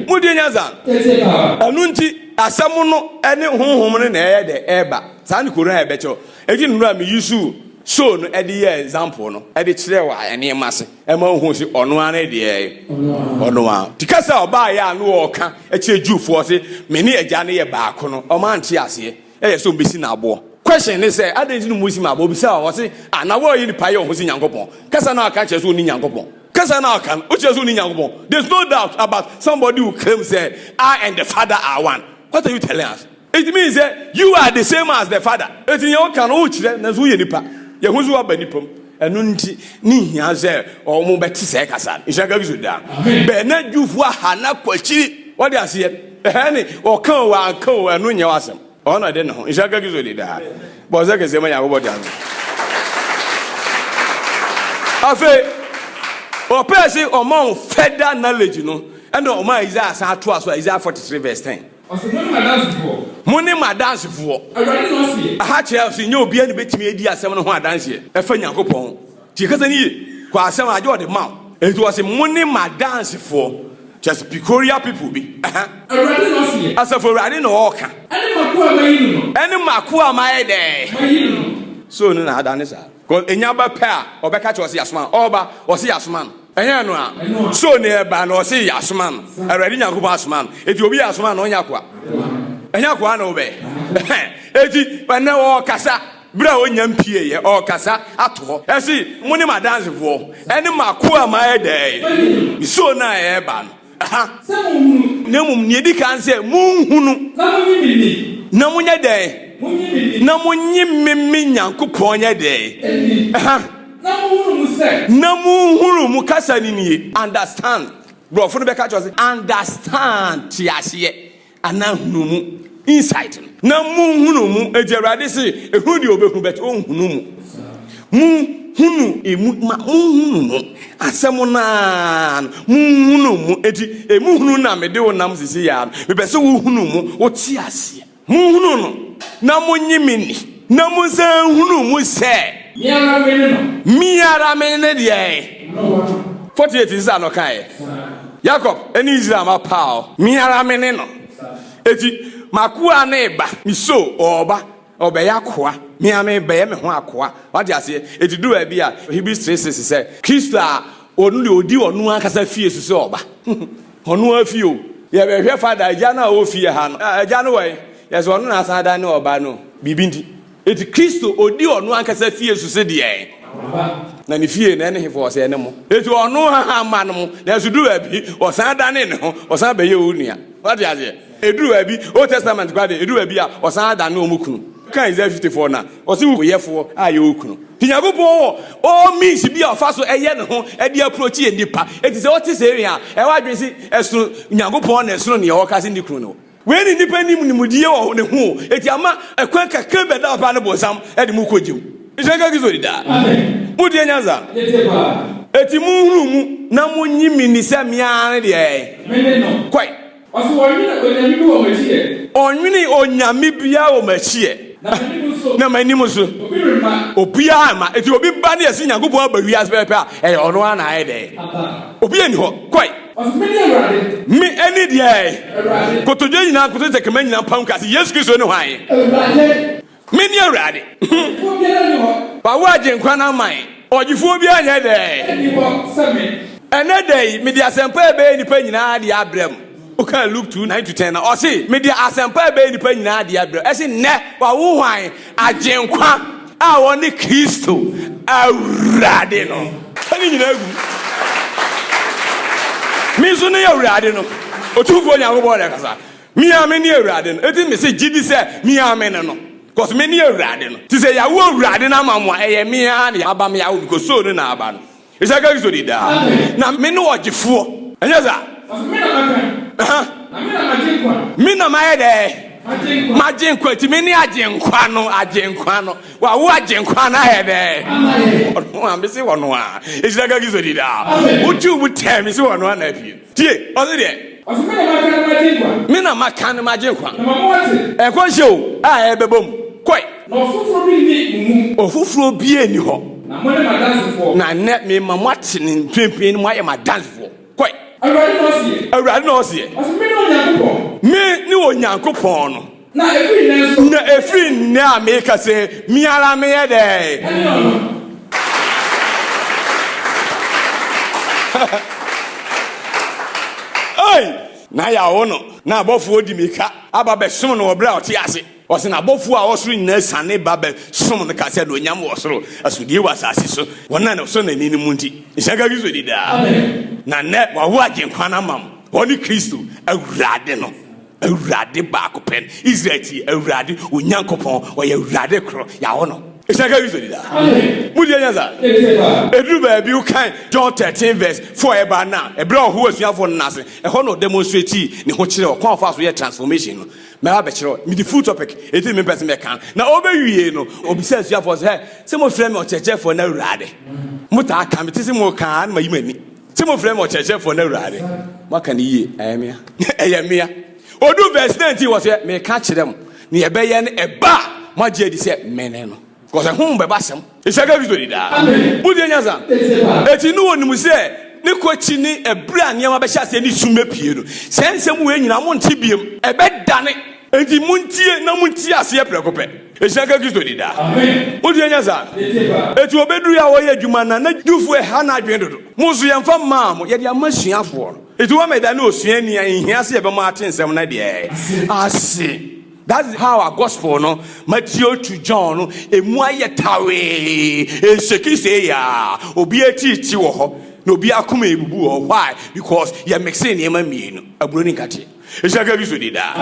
Speaker 1: Modie nyansa. Ɛno nti asɛm no ne honhom no na ɛyɛ dɛ ɛreba. Saa ne Koran a ɛbɛkyerɛw. Enti nnora me usuu soul no de yɛɛ example no de kyerɛɛ wɔ nneɛma ase. Ɛma wohu se ɔno ara ne deɛ ɔno ara. Ti ka sɛ ɔbaeɛ a na ɔreka kyerɛ Jewfoɔ se, Mene Agya no yɛ baako no, wɔante aseɛ. Ɛyɛ sɛ wɔbɛsi no aboɔ. Question ne sɛ, adɛn nti na wɔbɛsi me aboɔ? Ɔbisaa hɔ se, Ah, na woayi nipa yɛ wo ho se Nyankopɔn? Kasa no a woka kyerɛ sɛ wonni Nyankopɔn. Kasa no a woka no, wokyerɛ sɛ wonni Nyankopɔn. There's no doubt about somebody who claims sɛ, I and the Father are one. What are you telling us? It means sɛ you are the same as the father. Eti nea ɔka no wokyerɛ nanso woyɛ nipa. Yɛ ho so aba nipa mu. Ɛno nti ne nhia sɛ wɔn bɛte sɛ kasa no. Nhyira nka Kristo daa. Bɛn na Jewfo aha na kɔ akyiri. Wɔde aseɛ. Ɛhɛn ne ɔka o wanka o ɛno nyɛ w'asɛm. Ɔno na ɛde ne ho. Nhyira nka Kristo de daa. Bɔ ɔsɛ kɛseɛ ma Nyankopɔn de ano. Afei ɔpɛɛ se ɔma wɔn further knowledge no ɛna ɔma Isaiah san toa so Isaiah 43 verse 10. Ɔse, Mone m'adansefoɔ. Mone m'adansefoɔ. Awurade na ɔseɛ. Ɛha kyerɛ sɛ nyɛ obiara na obetumi adi asɛm no ho adanseɛ ɛfa Nyankopɔn ho. Tie kasa no yie, kɔ asɛm agye ɔde ma wo. Enti ɔse, Mone m'adansefoɔ. Kyerɛ sɛ peculiar people bi. Ɛha. Awurade na ɔseɛ. Asafo Awurade na ɔɔka. Ɛne m'akoa a mayi no no. Ɛne m'akoa a mayɛ dɛn? Mayi no no. So ɔno na ada ne saa? Cause enya ba pɛ a ɔbɛka kyerɛ ɔse yasoma no ɔba ɔse yasoma no ɛnyɛ no a so ne ɛba no ɔse yasoma no awurade nyankopɔn asoma no eti obi asoma no ɔnyɛ akoa ɛnyɛ akoa na ɔbɛ eti ɛnɛ ɔkasa bere a ɔnya mpie yɛ ɔkasa ato hɔ ɛse mo ne madansefoɔ ɛne makoa ma ɛdɛɛ so na ɛba no Sɛ monhunu. Na mmom nea edi kan sɛ monhunu. Na monye me ni. Na monyɛ dɛn? Monye me ni. Na monye me me Nyankopɔn nyɛ dɛn? Ni. Ɛha. Na monhunu mu sɛ. Na monhunu mu kasa no nie, understand. Borɔfo no bɛka kyerɛ sɛ understand, te aseɛ. Anaa hunu mu, insight no. Na mo nhunu mu, eti Awurade se, ehunu deɛ obehu bɛt onhunu mu. Mo hunu emu, ma mo nhunu mu. Asɛm naa no, mo nhunu mu. Eti emu hunu na mede wo nam sisi yaa no. Mepɛ se wo hunu mu, wo te aseɛ. Mo nhunu no, na mo nye me ni. Na monsan nhunu mu sɛ. Me ara me ne no. Me ara me ne deɛn? Noa. 48 nsa na ɔkaeɛ. Yakob ne Israel mma paw. Me ara me ne no. Enti m'akoa no reba. Me so ɔreba, ɔrebɛyɛ akoa. Me ara merebɛyɛ me ho akoa. Wate aseɛ? Enti ɛduru baabi a, Hebrews 3, 6 sɛ, Kristo a ɔno deɛ ɔdi ɔno ankasa fie so sɛ ɔba. Ɔno ara fie o. Yɛbɛhwɛ father, agya no a ɔwɔ fie ha no. Ah, agya no wɔ he? Yɛse ɔno na asan adane ɔba no biribi nti. Enti Kristo ɔdi ɔno ankasa fie so se deɛn? Na ne fie no, ɛne hefo? Ɔse ɛne mo. Enti ɔno haha mma no mo, nanso duru baabi ɔsan dane ne ho, ɔsan bɛyɛ wo nua. Woate aseɛ? Ɛduru baabi, Old Testament koraa deɛ, ɛduru baabi a wɔsan dane wɔn kunu ka Isaiah 54 no a, ɔse wo yɛfoɔ a yɛ wo kunu. Nti Nyankopɔn wɔ all means bi a ɔfa so ɛyɛ ne ho de approach yɛ nnipa. Enti sɛ wote seiwei a, ɛyɛ w'adwene se ɛsono Nyankopɔn na ɛsono nea ɔka se ne kunu ne wo. Wei ne nnipa nnim nimdie wɔ ne ho o, enti ama ɛkwan kakra bi a ɛda hɔ paa no bonsam de mo kɔ gye mu. Nhyira nka Kristo di daa. Motie nyansa. Enti monhunu mu na monye me nni sɛ me ara ne deɛ ɛɛ. Kɔe. Ɔse wɔnwene onyame bi wɔ m'akyi ɛ. Ɔnwene onyame biaa wɔ m'akyi ɛ. Na m'anim nso. Na m'anim nso. Obi remma. Obiaa remma. Enti obi ba ne yɛse Nyankopɔn aba wiase pɛpɛpɛ a, ɛyɛ ɔno ara na ayɛ dɛn? Aba. Obiaa nni hɔ. Kɔe. Ɔse mene Awurade. Me ɛne deɛ? Awurade. Kotodwe nyinaa nkoto tɛkrɛma nyinaa mpam ka se Yesu Kristo ne hwan? Awurade. Mene Awurade. Ɔgyefoɔ biara nni hɔ. Wawo Agyenkwa no ama yɛn. Ɔgyefoɔ biara nyɛ dɛn. Nni hɔ sɛ me. Ɛnnɛ da yi, mede asɛmpa a ɛbɛyɛ nnipa nyinaa dea abrɛ mo. Wokaa Luke two, nine to ten no a, ɔse, Mede asɛmpa a ɛbɛyɛ nnipa nyinaa dea abrɛ mo. Ɛse, Nnɛ, wawo hwan? Agyenkwa a ɔne Kristo, Awurade no. Fa ne nyinaa gu mu. Me nso ne Awurade no, Otumfoɔ Nyankopɔn na ɛkasa. Me ara mene Awurade no. Enti mese gye di sɛ me ara mene no, cos mene Awurade no. Te sɛ yawo Awurade no ama mo a, ɛyɛ me ara na aba me awo because so no na aba no. Isaka Kristo di daa. Na mene ɔgyefoɔ. Ɛnyɛ saa? Ɔse me na maka no.
Speaker 2: Aha. Na me na magye nkwa. Me na mayɛ dɛɛ? Magye
Speaker 1: nkwa. Magye nkwa. Enti mene agyenkwa no, agyenkwa no. Wawo agyenkwa no ayɛ dɛɛ? Ama yɛ. Ɔno a, mese ɔno a. Isaka Kristo di daa. Amen. Wotwi wo tɛɛ, mese ɔno a na apue. Tie, ɔse deɛ. Ɔse me na maka no magye nkwa. Me na maka no magye nkwa. Na ma mo ate. Ɛkɔ nhyɛ o a ɛbɛba mu. Kɔe. Na ɔfoforɔ
Speaker 2: bi nni mo mu. Ɔfoforɔ
Speaker 1: biaa nni hɔ. Na mone m'adansefoɔ.
Speaker 2: Na nnɛ mema
Speaker 1: mo ate ne mprempren no moayɛ m'adansefoɔ. Kɔe. Awurade na ɔseɛ.
Speaker 2: Awurade na ɔseɛ. Ɔse
Speaker 1: mene Onyankopɔn. Me ne Onyankopɔn no.
Speaker 2: Na ɛfiri
Speaker 1: nnɛ a meka sɛ, me ara meyɛ dɛn? Na yɛawo no, na abɔfoɔ di me ka aba bɛsom no wɔ berɛ a ɔte ase. Ɔse, na abɔfoɔ a wɔsoro nyinaa siane ba bɛsom no ka sɛ, Anuonyam wɔ soro, asodie wɔ asase so, wɔn a wɔsɔ n'ani no mu nti, nhyira nka Kristo di daa. Na nnɛ wawo Agyenkwa no ama mo, ɔne Kristo, Awurade no. Awurade baako pɛ no. Israel ti, Awurade, wo Nyankopɔn, ɔyɛ Awurade koro, yɛawo no. Hyɛ nka Kristo di daa. Mo deɛ nyansa. Ɛduru baabi wokan John 13 verse 4 a ɛbaa no a, ɛberɛ a ɔhoo asuafoɔ no nan ase, ɛhɔ na ɔdemonstratee ne ho kyerɛɛ ɔkwan a ɔfaa so yɛɛ transformation no. Mɛba abɛkyerɛ wo, mede full topic, enti na mempɛ sɛ mɛka no. Na ɔbɛwiee no, ɔbisaa asuafoɔ no sɛ, Hɛ, sɛ mofrɛ me Ɔkyerɛkyerɛfoɔ ne Awurade, motaa ka, mete sɛ moka a, na mayi m'ani. Ti mo frɛ me ɔkyerɛkyerɛfoɔ no awurade. Moaka no yie, ɛyɛ mea. ɛyɛ mea. Ɔdu verse 19 wɔ sɛ, meka kyerɛ mo, ne ɛbɛyɛ no ɛba a moagye adi sɛ mene no. Kɔsɛ ho bɛba asɛm. Nhyɛka Kristo di daa. Wodie nyasa? Eti no wɔnim sɛ ne kɔkyi ne ɛberɛ a nneɛma bɛhyɛ aseɛ ne sum bɛpue no. Saa nsɛm wei nyinaa monte biam. Ɛbɛdane Enti montie na monte aseɛ prɛko pɛ. Ehyira nka Kristo di daa. Wodeɛ nyɛ saa. Eti obeduru a wɔyɛ adwuma na na Jewfoɔ ɛha no adwene dodo. Mo nso yɛnfa mmaa mo, yɛde ama asuafoɔ no. Eti wɔma ɛda ne osuani a nhia sɛ yɛbɛma ate nsɛm no ɛdeɛɛ ase. That's how a gospel no Matthew to John no emu ayɛ tawee ɛnshake seiaa obiara ti reteɛ wɔ hɔ na obiara akoma ɛrebubu wɔ hɔ why because yɛ mixe nneɛma mmienu aburo ne nkateɛ. Hyɛ ka bi so di daa.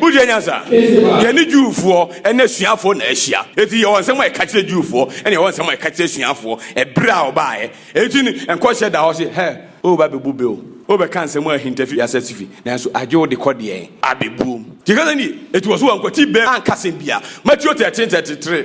Speaker 1: Wogye anya sa? Yɛne Jewfoɔ ne asuafoɔ na ahyia. Eti yɛwɔ nsɛm a yɛka kyerɛ Jewfoɔ, ɛna yɛwɔ nsɛm a yɛka kyerɛ asuafoɔ ɛberɛ a ɔbaeɛ. Eti no, nkɔhyɛ da hɔ se, Hɛ, woreba abɛbu bɛ o, wobɛka nsɛm a ahinta fi asaase fi, nanso agye wo de kɔ deɛn? Abɛbuom. Gye ka sɛ nie. Eti wɔ so wɔankwati bɛ anka asɛm biara. Matthew 13, 33.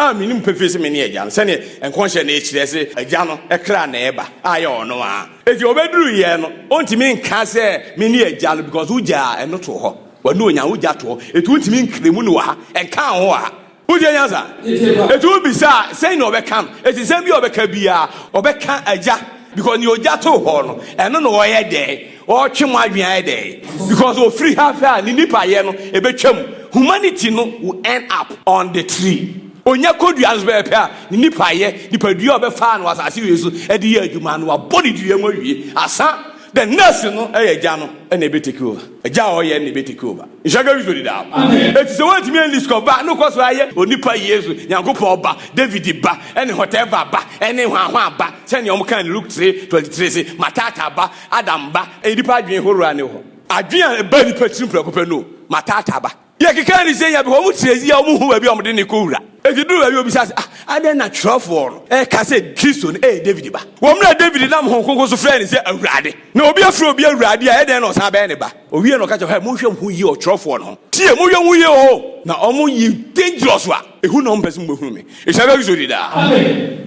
Speaker 1: A Minim pefee se mene Agya no, sɛdeɛ nkɔnhyɛ no kyerɛ se Agya no kra na ɛba, a ɛyɛ ɔno ara. Enti ɔbɛduruiɛ no, ɔntumi nka sɛ mene Agya no, because wogyaa ɛno too hɔ, w'anuonyam wogya too hɔ, enti wontumi nkra mu ne wɔ ha, nkaa ho wɔ ha. Wotie nyansa? Enti wobisa a, sɛn na ɔbɛka no? Enti nsɛm biara a ɔbɛka biara, ɔbɛka Agya, because nea ogya too hɔ no, ɛno na ɔyɛ dɛn? Ɔretwe mo adwene ayɛ dɛn? Because ofiri ha hwɛ a ne nipayɛ no ebetwam. Humanity no will end up on the tree. Onya kodua no so pɛpɛɛpɛ a, ne nipayɛ, nipadua a ɔbɛfaa no wɔ asase wei so de yɛ adwuma no, wabɔ ne dua mu awie. Asa, the next no yɛ agya no na ebe take over. Agya a ɔyɛ no na ebe take over. Nhyira nka Kristo dedaw. Enti sɛ woantumi anlist kɔ ba, na wokɔ so ara yɛ onipa Yesu, Nyankopɔn Ba, David Ba, ne whatever Ba, ne hwanhwan Ba, sɛnea wɔka no Luke three twenty three se, Matata Ba, Adam ba, ɛyɛ nnipa adwene horow a na ɛwɔ hɔ. Adwene a ɛbaa nnipa tirim prɛko pɛ no ma tata aba. Yɛkeka adesua bi a, wɔn tiri ayi a wɔnhu baabi a wɔde no rekowura. Enti eduu baabi a wobisa sɛ, Ah, adɛn na kyerɛwfo no reka sɛ Kristo no yɛ Dawid ba? Wɔ mmere a Dawid nam honhom kronkron so frɛɛ no sɛ Awurade, na obi afrɛ obi Awurade a, ɛyɛ dɛn na ɔsan abɛyɛ ne ba? Owiee no, ɔka kyerɛɛ wɔn sɛ, Monhwɛ mo ho yiye wɔ ɔkyerɛwfo no ho. Tie! Monhwɛ mo ho yiye oo, na wɔyɛ dangerous a. Ehu na ɔmpɛ sɛ mobɛhunu me. Ehyia bɛ Kristo di daa.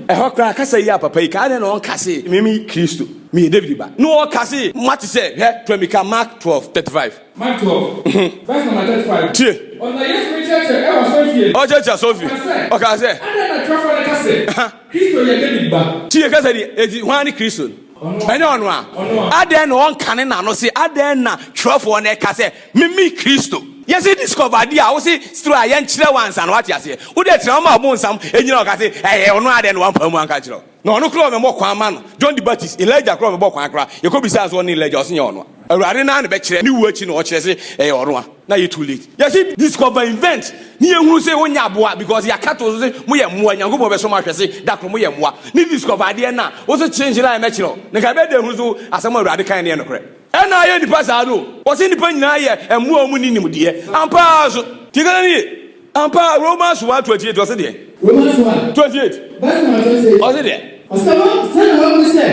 Speaker 1: Ɛhɔ koraa kasa yi a papa yi ka, adɛn na ɔnka se, Me me Kristo, meyɛ David ba? Na ɔka se, Moate sɛ, hwɛ, toa mi ka, Mark twelve thirty five. Mark twelve, verse number thirty five. Tie.
Speaker 2: Ɔno
Speaker 1: na
Speaker 2: Yesu
Speaker 1: rekyerɛkyerɛ
Speaker 2: wɔ asɔrefie no.
Speaker 1: Ɔrekyerɛkyerɛ
Speaker 2: asɔrefie.
Speaker 1: Ɔkaa
Speaker 2: sɛ. Ɔkaa
Speaker 1: sɛ. Adɛn
Speaker 2: na twerɛfoɔ no ka sɛ, Kristo yɛ David ba? Tie, kasa ni, enti
Speaker 1: hwan ne Kristo no? Ɛnyɛ ɔno a, adɛn na ɔnkane n'ano se, Adɛn na twerɛfoɔ no ɛka sɛ meme Kristo? Yɛse discover adeɛ a wose still a yɛnkyerɛ wo ansa no wate aseɛ. Wode tena hɔ ma ɔbonsam ɛnyina hɔ ka se ɛyɛ ɔno a adɛn na wampae mu anka ankyerɛ wo. Na ɔno koraa ɔmɛmɔ kwan ma no. John the Baptist, Elijah koraa ɔmɛbɔ kwan koraa. Yɛkɔbisaa no sɛ ɔne Elijah ɔse nyɛ ɔno a. Awurade naa ne bɛkyerɛ ne wu akyi no ɔkyerɛ se ɛyɛ ɔno a na ayɛ too late yɛse discover invent ne yɛhunu se wonyɛ aboa because yɛaka too so se moyɛ mmoa Nyankopɔn bɛsɔ mo ahwɛ se dakoro moyɛ mmoa ne discover adeɛ na wose kye nhyira a ɛmɛkyerɛ wo na nka ɛbɛyɛ dɛ hunu so asɛm a Awurade kae no yɛ nokorɛ ɛna ayɛ nnipa saa no ɔse nnipa nyinaa yɛ mmoa a wɔnni nimdeɛ ampa ara nso tie kasa no yie. Ampa ara, Romans one twenty eight, ɔse deɛ? Romans one. Twenty
Speaker 3: eight. Verse number twenty eight. Ɔse deɛ? Ɔse
Speaker 1: wɔ, sɛdeɛ wɔahu sɛ,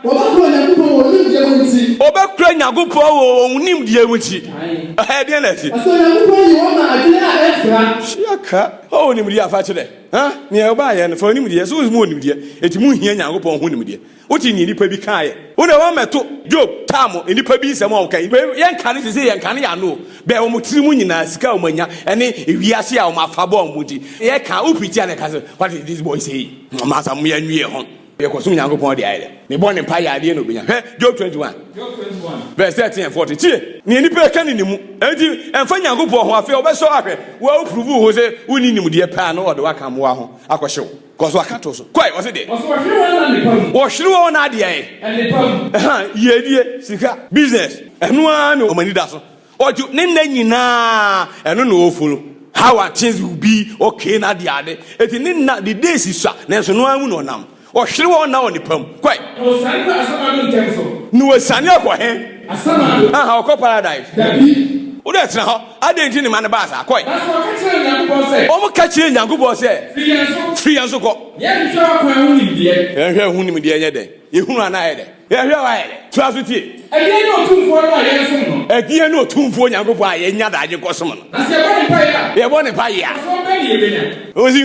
Speaker 1: wɔbɛkora Onyankopɔn wɔ wɔn nimdeɛ mu nti. Wɔbɛkora Nyankopɔn wɔ wɔn nimdeɛ mu nti. Ɛhɛ, deɛ na ɛse? Ɔse Onyankopɔn yi wɔn ma adwene a ɛfra. Hyia ka, ɔwɔ nimdeɛ a fa kyerɛ. Hã? Nea ɔbaayɛ no, fa nimdeɛ, so wɔn mu wɔ nimdeɛ, enti monhia Nyankopɔn ho nimdeɛ. Wote nea nnipa bi kaeɛ? Wo deɛ woammɛto Job taa mo nnipa bi nsɛm a wɔkae. Wei yɛnkane sesei, yɛnkane yɛn ano o. Bɛn wɔn tiri mu nyinaa, sika a wɔanya ne wiase a wɔn afa bɔɔ wɔn nti, yɛka a, wo preacher na ɛka sɛ, what is this boy saying? Masa mo yɛn nwi yɛn ho. Yɛkɔsom Nyankopɔn deɛ ayɛ dɛ. Ne bɔ ne mpaeɛ a, adeɛ na ɔbɛnya. Hwɛ Job 21. Verse 13 and 14. Tie nea nnipa reka ne ne mu. Enti ɛmfa Nyankopɔn ho, afei ɔbɛsɔ ahwɛ wo a wo prove wo ho sɛ wonni nimdeɛ paa na ɔde wo aka mmoa ho akɔhye wo. Kɔ so aka to so. Kɔ ɛ, ɔse deɛ. Ɔse wɔhwere wɔn na nnepa mu. Wɔhwere wɔn na adeɛ ɛ. Nnepa mu. Ɛhaa, yiedie, sika, business, ɛno ara na wɔn ani da so. Ɔdwo, ne nna nyinaa ɛno na ɔfollow. How are things will be okay na adeɛ ade. Eti ne nna, the days sua, nanso ɛno ara mu na ɔnam. Ɔhwere wɔn na wɔ nnepa mu. Kɔ ɛ. Na
Speaker 2: ɔsiane kɔ Asamado ntɛm so. Na ɔsiane akɔ
Speaker 1: he? Asamado.
Speaker 2: Ahaa, ɔkɔ paradise.
Speaker 1: Dabi. Wo
Speaker 2: deɛ tena hɔ.
Speaker 1: Adɛn nti ne ma no baa saa? Kɔe.
Speaker 2: Wɔka kyerɛ Nyankopɔn
Speaker 1: sɛ, Firi yɛn so kɔ. Yɛnhwɛ ɔkwan
Speaker 2: ho nimdeɛ. Yɛnhwɛ ho nimdeɛ nyɛ
Speaker 1: dɛn? Yɛhunu anaa ayɛ dɛn? Yɛhwɛ a ayɛ dɛn? Toa so tie. Ɛdeɛn ne Otumfoɔ no
Speaker 2: a yɛnsom no? Ɛdeɛn ne Otumfoɔ
Speaker 1: Nyankopɔn a yɛnya daagye kɔsom no? Na sɛ yɛbɔ ne mpaeɛ
Speaker 2: a. Yɛbɔ ne mpaeɛ a.
Speaker 1: Mfasoɔ
Speaker 2: bɛn ne yɛbɛnya? Ɔsi,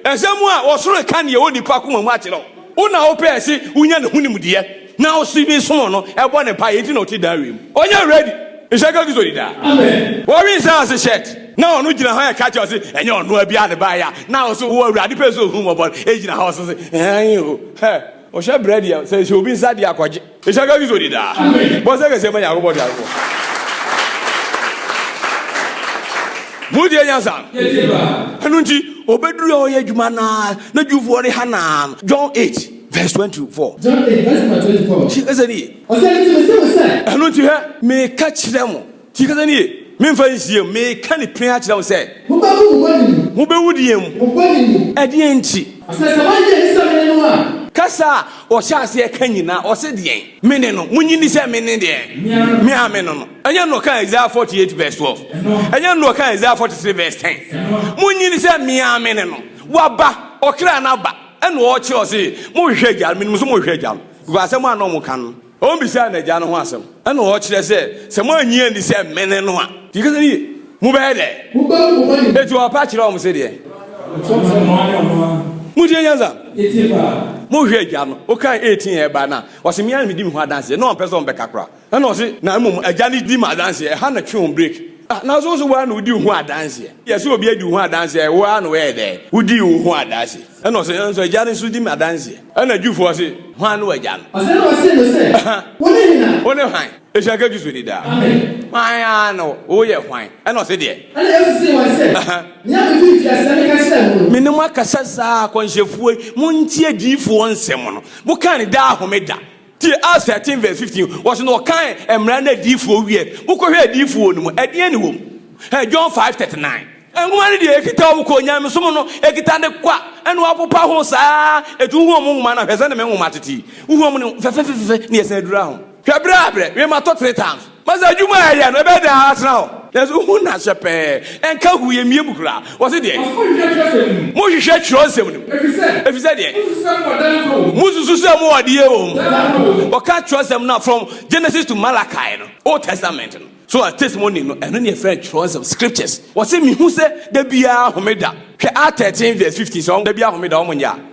Speaker 1: Nsɛm a ɔsoro ka deɛ onipa koma mu akyerɛ wo, wo na wopɛɛ se wonya ne ho nimdeɛ. Na ɔsi bi somo no ɛbɔ ne paa yɛ nti na ɔte daa wiem. Ɔnyɛ ready nhyɛ ka Kristo di daa. Wɔwe nsa
Speaker 2: ase shirt
Speaker 1: na ɔno gyina hɔ ɛka kyerɛ ɔse ɛnyɛ ɔnoa biaa na ɛbaeɛ a na ɔse wo Awurade pɛ sɛ ɔhu mmɔbɔ no ɛgyina hɔ ɔse se aane o hɛ ɔhwɛ brɛ deɛ sɛ hyɛ obi nsa deɛ a kɔgye nhyɛ ka Kristo di daa. Bɔ nsa kɛseɛ ma
Speaker 2: Nyankopɔn
Speaker 1: Teasefoɔ. Motie nyansa no? Yɛtie paa. Ɛno
Speaker 2: nti
Speaker 1: ɔbɛduru a ɔyɛ adwuma no ara na Jewfoɔ no ha no ara no John 8. Verse twenty-four.
Speaker 3: John eight verse number
Speaker 1: twenty-four. Ti kasa ni ye.
Speaker 3: Ɔsɛ nti mi se mo sɛ. Ɛno nti hwɛ,
Speaker 1: meka kyerɛ mo. Ti kasa ni ye. Memfa nsie mo. Meka ne pene akyerɛ mo sɛ. Mobɛwu mo
Speaker 3: bɔne mu. Mobɛwu deɛn mu? Mo
Speaker 1: bɔne mu.
Speaker 3: Ɛdeɛn nti?
Speaker 1: Ɔsɛ sɛ moagye adi sɛ
Speaker 3: mene no a. Kasa a ɔhyɛ
Speaker 1: aseɛ ka nyinaa ɔse deɛn? Mene no. Monye ni sɛ mene deɛn? Me a mene no. Ɛnyɛ no ɔka Isaiah forty eight verse twelve. Ɛnyɛ no ɔka Isaiah forty three verse ten. Monye ni sɛ me a mene no. Waba, ɔkra no aba. Ɛnna ɔkyerɛɛ ɔse, Mohwehwɛ Agya no, menim nso mohwehwɛ Agya no, because asɛm a na wɔka no, wɔbisaa no Agya no ho asɛm. Ɛnna ɔkyerɛɛ sɛ, sɛ moannye anni sɛ mene no a, nti kasa no yie, mobɛyɛ dɛn?
Speaker 3: Enti ɔka kyerɛɛ wɔn se
Speaker 1: deɛ? Motie nyansa! Mohwehwɛ
Speaker 2: Agya no.
Speaker 1: Wokan 18 a ɛbae no a, ɔse, Me ara na medi me ho adanseɛ. Na ɔmpɛ sɛ wɔbɛka koraa. Ɛna ɔse, na mmom agya no di me adanseɛ, ɛha na twe ho break. Ah, nanso wo nso wo ara na wodi wo ho adanseɛ. Yɛse obi adi wo ho adanseɛ a, wo ara na woyɛɛ dɛn? Wodii wo ho adanseɛ. Ɛna ɔse, nanso agya no nso di me adanseɛ. Ɛna Jewfoɔ se, hwan ne w'agya no? Ɔse,
Speaker 3: ɛna ɔsee no sɛ, Aha, wo ne hena? wo ne hwan? Ehyia
Speaker 1: ka Jesu ni daa. Amen. Hwan
Speaker 2: ara ne
Speaker 1: wo? Woyɛ hwan? Ɛna ɔse deɛ. Ɛna Yesu see wɔn sɛ,
Speaker 3: Aha. Nea me firi mfiaseɛ meka kyerɛɛ mo no. Me ne mo akasa saa,
Speaker 1: akɔnhyɛfoɔ yi, montie adiyifoɔ nsɛm no. Mokaa ne daa homeda. Tie Acts thirteen verse fifteen, wɔsi na ɔkan mmara ne adiifoɔ wiɛ, mokɔ hwɛ adiifoɔ no mu, ɛdeɛn na ɛwɔ mu? Hwɛ John five thirty nine. Nwoma no deɛ ɛkita wɔn kɔ onyamesom no, ɛkita ne kwa, ɛna wɔapopa ho saa, ɛtu wohu wɔn nwoma no a, hwɛ sɛdeɛ me nwoma tete yi, wohu wɔn no fɛfɛfɛfɛ na yɛsan dura ho, hwɛ berɛ a berɛ, wiem atɔ three times. Ma saa adwuma a ɛyɛ no, ɛbɛyɛ dɛn ara atena hɔ. Nanso wohu no aseɛ pɛɛ. Ɛnka hoo, ɛmmue mu koraa. Wɔse deɛ. Wɔse monhwehwɛ twerɛsɛm no mu. Monhwehwɛ twerɛsɛm no mu. Ɛfiri sɛ. Ɛfiri sɛ deɛ. Mosusu sɛ mowɔ dan korɔ wɔ mu. Mosusu sɛ mowɔ adeɛ wɔ mu. Dada korɔ wɔ mu. Wɔka twerɛsɛm no a, from Genesis to Malachi no, Old Testament no. So a testimony no, ɛno ne yɛfrɛ no twerɛsɛm, scriptures. Wɔse mehu sɛ da biara homeda. Hwɛ Act 13 vs 15, sɛ wɔn da biara homeda wɔn nyɛ a.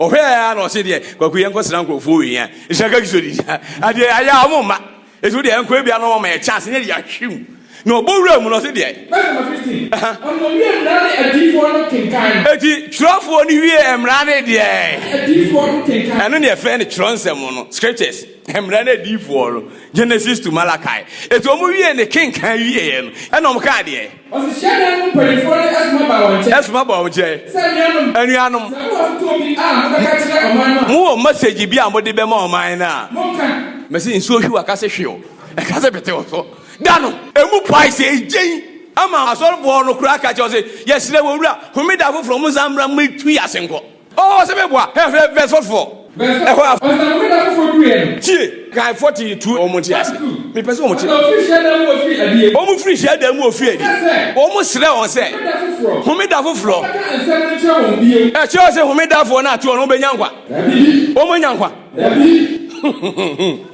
Speaker 1: Ɔhwɛ yɛ ara na ɔse deɛ kwaku yɛn kɔsra nkurɔfoɔ wɔ yɛn nhyɛ kaki so didi adeɛ ayɛ a wɔn mma esi wo deɛ yɛn kɔ ebi ano wɔn ma yɛ chance nyɛ deɛ ahwe mu na ɔbɔ wura mu na ɔse deɛ. Verse
Speaker 2: number fifteen. Aha. Ɔna owie mmara ne adiyifoɔ no kenkan no. Eti twerɛfoɔ
Speaker 1: no wie mmara ne deɛ. Adiyifoɔ no
Speaker 2: kenkan. Ɛno ne ɛfrɛ no twerɛ
Speaker 1: nsɛm no scriptures mmara ne adiyifoɔ no Genesis to Malachi. Eti wɔn wie ne kenkan wie yɛ no ɛna wɔn kaa deɛ. Ɔse hyiadan mu
Speaker 2: mpaninfoɔ de ɛsoma baa wɔn nkyɛn. Ɛsoma baa wɔn nkyɛn. Sɛ
Speaker 1: anuanom. Anuanom. Sɛ mowɔ fotoɔ bi a mobɛka kyerɛ ɔman no a. Mowɔ message bi a mode bɛma ɔman no a. Monka. Mese nsuo hwe waka se hwe o, ɛka se pete o so da no. Emu pae se egyen ama asɔrefoɔ no koraa ka kyerɛ wɔn se, Yɛsrɛ mo, Owura, Homeda foforɔ monsan mmra mmetu yɛn ase nkɔ. Oh, sɛ me boa, hɛ hwɛ verse four four. Verse ɛhɔ a. Ɔsɛ na homeda
Speaker 2: foforɔ duruiɛ no. Tie, kae
Speaker 1: forty two wɔn nte ase. Me pɛ sɛ wɔn te. Ɔsɛ ofiri hyiadan mu ofiri adie. Wɔn firi hyiadan mu ofiri adie. Ɔsɛ sɛ. Wɔn srɛ wɔn sɛ. Homeda foforɔ. Homeda foforɔ. Ɔbɛka nsɛm no nkyerɛ wɔn bio. Ɛkyerɛ ɔsɛ homeda foɔ no ato wɔn wɔn bɛ nya nkwa. Dabi. Wɔn bɛ nya nkwa. Dabi.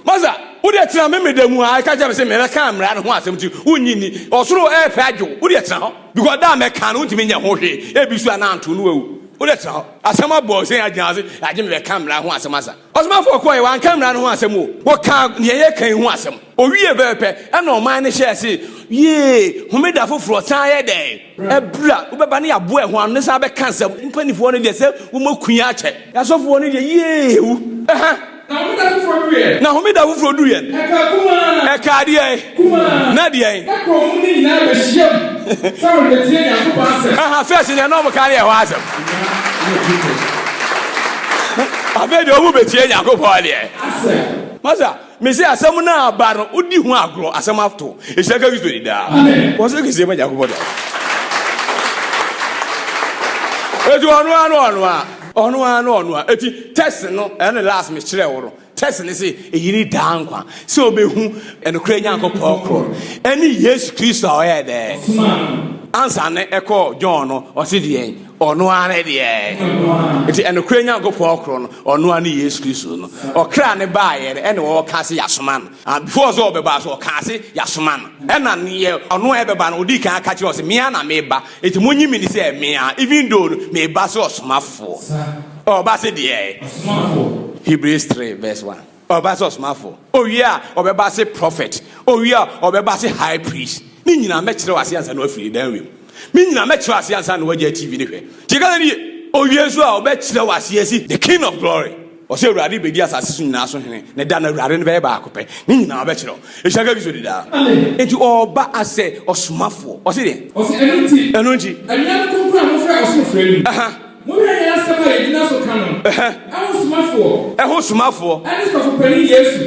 Speaker 1: Masa, wo deɛ tena me meda mu a, ɛka kyerɛ me sɛ mɛ bɛka mmara no ho asɛm ti, wo nyi ni, ɔsoro ɛɛpɛ adwo, wo deɛ tena hɔ, because da a mɛ ka no wo ntumi nyɛ ho hwee, ebi so a na anto no awu. Wo dɛ tena hɔ. Asɛm abɔ wo sɛn agyina hɔ se agye me bɛka mmara ho asɛm asa. Ɔsomafoɔ kɔɔɛ wanka mmara no ho asɛm o, wɔkaa deɛ yɛka yi ho asɛm. Ɔwiee pɛpɛpɛ ɛna ɔman no hyɛɛ se yee homeda foforɔ san yɛ dɛn? Ɛbra wobɛba ne yaboa ɛho ano ne san bɛka nsɛm. Mpanifoɔ no deɛ sɛ woma kua akyɛ. Asɔfoɔ no deɛ yee wu. Ɛha. Na homeda foforɔ duruiɛ no, ɛkaa deɛn? Na deɛn? Aha, fɛs deɛ na wɔka ne ɛhɔ asɛm. Afei deɛ wɔn bɛtie Nyankopɔn deɛ. Masa, mese asɛm no aba no, wodi ho agorɔ, asɛm ato. Ɛhyɛ ka Kristo ni daa. Wɔn sɛ kɛsie ma Nyankopɔn daa. Ɛti ɔno a na ɔno a. Ɔno ara ne ɔno a. Eti text no, ɛne last me kyerɛɛ wo no, text no se, eyi ne daa nkwa, sɛ obehu nokorɛ Nyankopɔn korɔ no, ɛne Yesu Kristo a ɔyɛɛ dɛ? Ɔsomaa no. Ansa no ɛkɔɔ John no, ɔse deɛn? Ɔno ara ne deɛ? Ɔno ara. Eti nokorɛ Nyankopɔn korɔ no, ɔno ara ne Yesu Kristo no. Ɔkra no baeɛ no, ɛna ɔɔka se yasoma no. Ah, before sɛ ɔbɛba nso, ɔkaa se yasoma no. Ɛna neɛ ɔno a ɛbɛba no, ɔdii kan aka kyerɛɛ wɔ se, Mea na meba. Enti monye me ni sɛ me a, even though no, meba sɛ ɔsomafoɔ. Sa. Ɔba se deɛ? Ɔsomafoɔ. Hebrews three verse one. Ɔba se ɔsomafoɔ. Owie a, ɔbɛba se prophet. Owie a, ɔbɛba se high priest. Ne nyinaa mɛkyerɛ wo aseɛ ansa na woafiri Dan wiem. Me nyinaa mɛkyerɛ wo aseɛ ansa na woagyae TV no hwɛ. Nti ka sɛ nie. Owie nso a, ɔbɛkyerɛ wo aseɛ se the King of Glory. Ɔsɛ Awurade bedi asase so nyinaa so hene, ne da no Awurade no bɛyɛ baako pɛ, ne nyinaa bɛkyerɛ hɔ. Ehyira nka Kristo di daa. Amen. Enti ɔreba asɛ ɔsomafoɔ. Ɔse deɛn? Ɔse, Ɛno nti, Ɛno nti. anuanom kronkron
Speaker 2: a mofrɛ ɔsoro frɛ no mu, Aha. monhwɛ yɛn asɛm a yɛgyina so ka no Ɛhɛ. ho somafoɔ, Ɛho somafoɔ. ɛne Sɔfo Panin Yesu.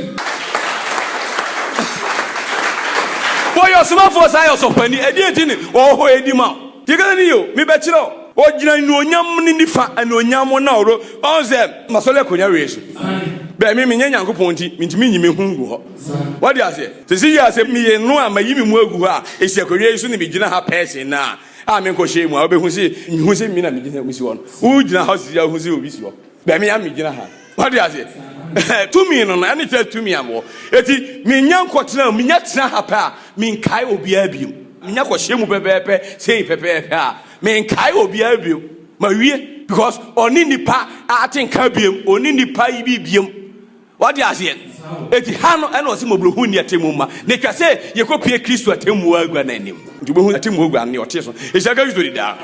Speaker 1: Wɔyɛ ɔsomafoɔ san yɛ ɔsɔfopanin. Ɛdeɛn nti ne ɔwɔ hɔ redi ma wo? Yɛkasa ni o, mebɛkyerɛ o. Ɔgyina anuonyam ne nifa, anuonyam mu na ɔro, ɔhu sɛ m'asɔre akonya awiei so. Bɛ, me, menyɛ Nyankopɔn nti, mentumi nyi me ho ngu hɔ. W'ate aseɛ? Sɛsi yi a sɛ meyɛ no a mayi me mu agu hɔ a, esi akonya yi so na megyina ha pɛɛ sen nnɛ a, a menkɔhyɛɛ mu a, wobɛhu se, nhu se me na megyina, mesi hɔ no. Wogyina hɔ sɛsi a, wohu se obi si hɔ. Bɛmi a megyina ha. Wade aseɛ? Tumi no no, ɛne kyerɛ tumi a mewɔ. Eti, menya nkɔtena, menya tena ha pɛ a, menkae obiara bio. Menya kɔhyɛ mu pɛpɛɛpɛ, sei pɛpɛɛpɛ a, menkae obiara bio. Mawie, because ɔne nipa ate nka biam, ɔne nipa yi bi biam. Wate aseɛ? Eti ha no ɛna ɔsi mɔborohu ni atemmu ma na etwa sɛ yɛkɔ pie Kristo atemmu agua no anim. Nti wobɛhu atemmu agua no ne ɔte so ehyia Kristo di daa.